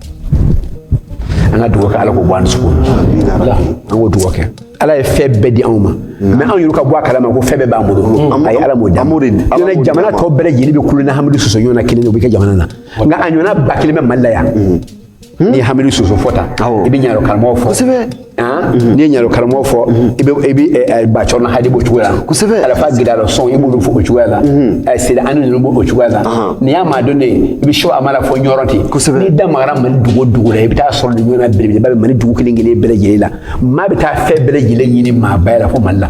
an ka dugawu kɛ ala k'o bɔ an dusukun an k'o dugawu kɛ ala ye fɛn bɛɛ di anw ma mais anw yɛrɛ ka bɔ a kalama ko fɛn bɛɛ b'an bolo ayi ala m'o da ɲɔnɛ jamana tɔ bɛɛ lajɛlen bɛ kulon na hamidu soso ɲɔgɔnna kelen o bɛ kɛ jamana na nka a ɲɔgɔnna ba kelen bɛ mali la yan n'i ye hamidu soso fɔ tan i bɛ ɲaro karamɔgɔ fɔ Mhm. n'i ye ɲaro karamɔgɔ fɔ mhm. i bɛ i bɛ eh, eh, ba cɛrnɔ hadi b'o cogoya la kosɛbɛ alafa gidalɔ sɔn i b'olu fɔ o cogoya la mhm. eh, sida ani ninnu b'o cogoya la n'i y'a maa dɔnnen ye i bɛ sɛki hamala fɔ ɲɔrɔ ten kosɛbɛ n'i da magara mali dugu o dugu la i bɛ taa sɔrɔ nin ɲɔgɔnna belebeleba bɛ mali dugu kelen kelen bɛɛ lajɛlen la maa bɛ taa fɛn bɛɛ lajɛlen ɲini maaba la fo mali la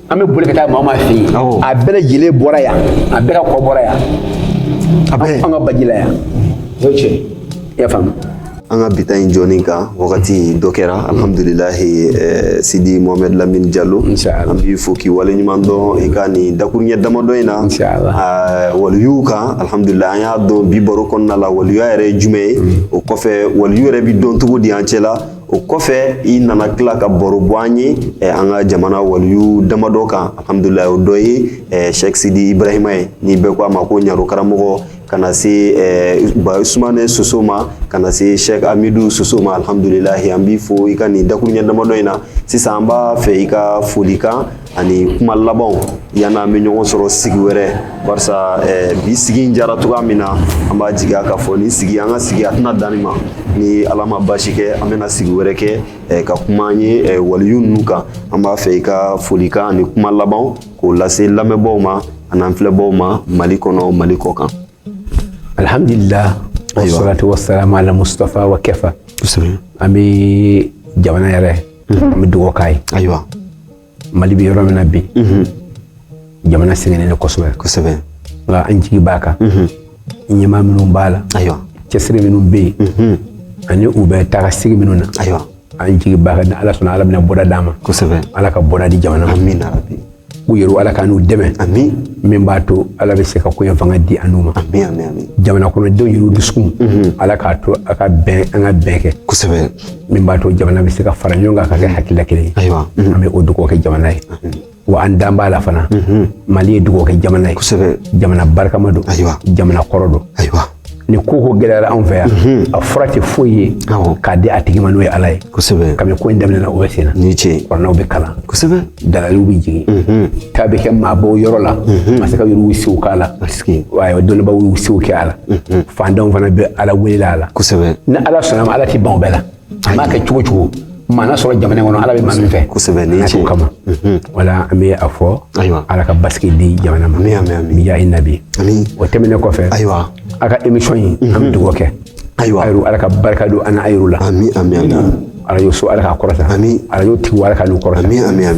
an bɛ boli ka taa maa o maa fɛ yen a bɛɛ lajɛlen bɔra yan a bɛɛ ka kɔ bɔra yan a bɛ an ka baji la yan o ye tiɲɛ i y'a faamu an ka bi ta in jɛmukan wagati dɔ kɛra alhamdulilahi eh, sidi mohamɛd lamini jalo an b'i fo k'i wale ɲuman dɔn i ka nin dakuruɲɛ damadɔ in na ah, waliyuw kan alhamdulilahi an y'a dɔn bi baro kɔnɔna la waliya yɛrɛ ye jumɛn ye mm. o kɔfɛ waliyu yɛrɛ bi dɔn cogo di an cɛla o kɔfɛ i nana tila ka baro bɔ an ye an ka jamana waliyu damadɔ kan alhamdulilahi o dɔ ye sɛki sidi ibrahima ye ni bɛɛ ko a ma ko ɲaro karamɔgɔ ka na se ba usumanɛ soso ma ka na se sɛki hamidu soso ma alhamdulilahi an b'i fo i ka nin dakuruɲɛ damadɔ in na sisan an b'a fɛ i ka foli kan ani kuma labanw yan'an bɛ ɲɔgɔn sɔrɔ sigi wɛrɛ barisa eh, bi sigi in jara cogoya min na an b'a jigiya k'a fɔ nin sigi an ka sigi a tɛna dan nin ma ni ala ma basi kɛ an bɛna sigi wɛrɛ kɛ eh, ka kuma an ye eh, waliyu ninnu kan an b'a fɛ i ka folikan ani kuma labanw k'o lase lamɛnbaaw ma an'an filɛbaaw ma mali kɔnɔ mali kɔ kan Alhamdulila wasalatu wasalam ala Mustafa wa kafa. Kosɛbɛ. An bɛ jamana yɛrɛ. An bɛ dugawu k'a ye. Ayiwa. Mali bɛ yɔrɔ min na bi. Jamana sɛgɛnnen don kosɛbɛ. Kosɛbɛ. Nka an jigi b'a kan. Ɲɛmaa minnu b'a la. Ayiwa. Cɛsiri minnu bɛ yen. Ani u bɛ taa sigi minnu na. Ayiwa. an jigi b'a kan ni ala sɔnna ala bɛna bɔda d'an ma kosɛbɛ ala ka bɔda di jamana ma amiina yarabi u yɛrɛ ala k'an n'u dɛmɛ amiina min b'a to ala bɛ se ka ko in fanga di an n'u ma jamana kɔnɔdenw yɛrɛ dusukun mhm. ala k'a to a ka bɛn an ka bɛn kɛ kosɛbɛ min b'a to jamana bɛ se ka fara ɲɔgɔn kan ka kɛ hakilila kelen ye ayiwa an bɛ o dugawu kɛ jamana ye wa an dan b'a la fana mali ye dugawu kɛ jamana ye kosɛbɛ jamana barikama don ayiwa jamana kɔrɔ don ayiwa ni ko ko gɛlɛyara anw fɛ yan a fura tɛ foyi ye Awɔ. k'a di a tigi ma n'o ye ala ye kosɛbɛ kabini ko in daminɛna o bɛ sen na ni ce kuranaw bɛ kalan kosɛbɛ dalaliw bɛ jigin k'a bɛ kɛ maabaw yɔrɔ la masakɛ yɛrɛ y'u sew k'a la Asike. ayiwa dɔnnibaw y'u sew kɛ a la fantanw fana bɛ ala welela a la kosɛbɛ ni ala sɔnna a ma ala tɛ ban o bɛɛ la A ma kɛ cogo cogo maa na sɔrɔ jamana kɔnɔ ala bɛ maa min fɛ kosɛbɛ n'a t'o kama wala an bɛ a fɔ ayiwa ala ka basigi di jamana ma amiina yarabi o tɛmɛnen kɔfɛ ayiwa aw ka emisiyɔn in an bɛ dugawu kɛ ayiwa ala ka barika don an n'a yɛrɛ la arajo so ala ka kɔrɔta arajo tigi ala k'u kɔrɔta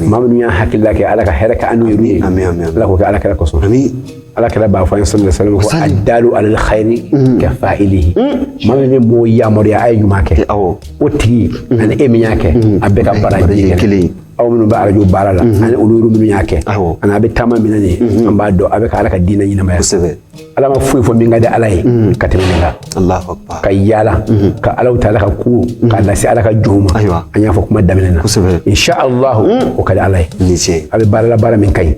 maa minnu y'a hakilila kɛ ala ka hɛrɛ k'an n'u ye ala k'o kɛ ala kira kɔsɔn ala kira b'a fɔ an ye salalahu alayihi wasalam ko adalu alal xayiri ka fa ili maa min bɛ mɔgɔw yamaruya a ye ɲuman kɛ o tigi ani e min y'a kɛ a bɛɛ ka baraji kelen aw minnu bɛ arajo baara la ani olu minnu y'a kɛ ani a bɛ taama min na nin an b'a dɔn a bɛ ka ala ka diinɛ ɲɛnamaya kosɛbɛ ala ma foyi fɔ min ka di ala ye ka tɛmɛ nin kan ka yaala ka alaw ta ala ka ko k'a lase ala ka jɔnw ma an y'a fɔ kuma daminɛ na insha alahu o ka di ala ye a bɛ baara la baara min ka ɲi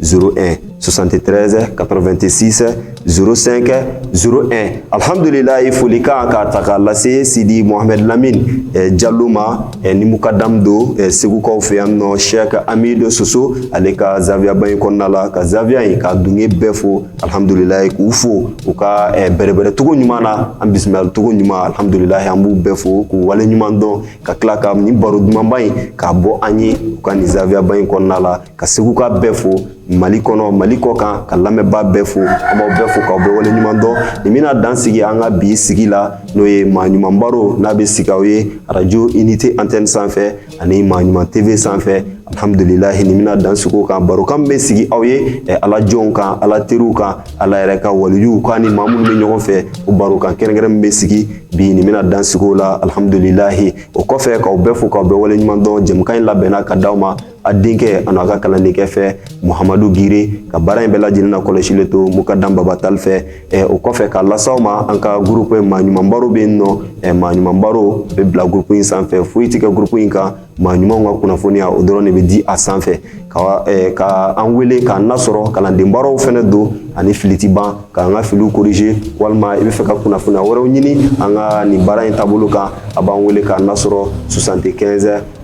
01 73 86 05 01 alihamdulilayi folikan k'a ta k'a lase sidi mohamɛd lamini eh, jalo ma eh, ni mukadamu don eh, segukaw fɛ yan nɔ sɛk amidu soso ale ka zawiyaba in kɔnɔna la ka zawiya in ka dunge bɛɛ fo alihamdulilayi k'u fo u ka eh, bɛrɛbɛrɛ cogo ɲuman na an bisimilali cogo ɲuman alihamdulilayi an b'u bɛɛ fo k'u wale ɲuman dɔn ka tila ka nin baro dumanba in k'a bɔ an ye u ka nin zawiyaba in kɔnɔna la ka seguka bɛɛ fo mali kɔnɔ mali kɔ kan ka lamɛnba bɛɛ fo an b'aw bɛɛ fo k'aw bɛɛ wale ɲuman dɔn nin bɛna dan sigi an ka bi sigi la n'o ye maa ɲuman baro n'a bɛ sigi aw ye arajo unité antenne sanfɛ ani maa ɲuman tv sanfɛ alhamdulilahi nin bɛna dan sigi o kan barokan bɛ sigi aw ye eh, ala jɔnw kan ala teriw kan ala yɛrɛ ka waliyuw kan ni maa minnu bɛ ɲɔgɔn fɛ o barokan kɛrɛnkɛrɛn min bɛ sigi bi nin bɛna dan sigi o la alhamdulilahi o kɔfɛ k'aw bɛɛ fo k'aw bɛɛ wale ɲuman dɔn jɛmukan in labɛnna ka d'aw ma a denkɛ an'a ka kalandenkɛ fɛ muhamadu giri ka baara in bɛɛ lajɛlen na kɔlɔsili to mukadamu baba tali fɛ o kɔfɛ k'a las'aw ma an ka groupe maa ɲuman baro bɛ yen n'o maa ɲuman baro bɛ bila groupe in sanfɛ foyi tɛ kɛ groupe in kan maa ɲumanw ka kunnafoniya o dɔrɔn de bɛ di a sanfɛ ka ka an wele k'an nasɔrɔ kalanden baaraw fana don ani fili ti ban k'an ka filiw corriger walima i bɛ fɛ ka kunnafoniya wɛrɛw ɲini an ka nin baara in taabolo kan a b'an wele k'an nasɔrɔ soixante-quinze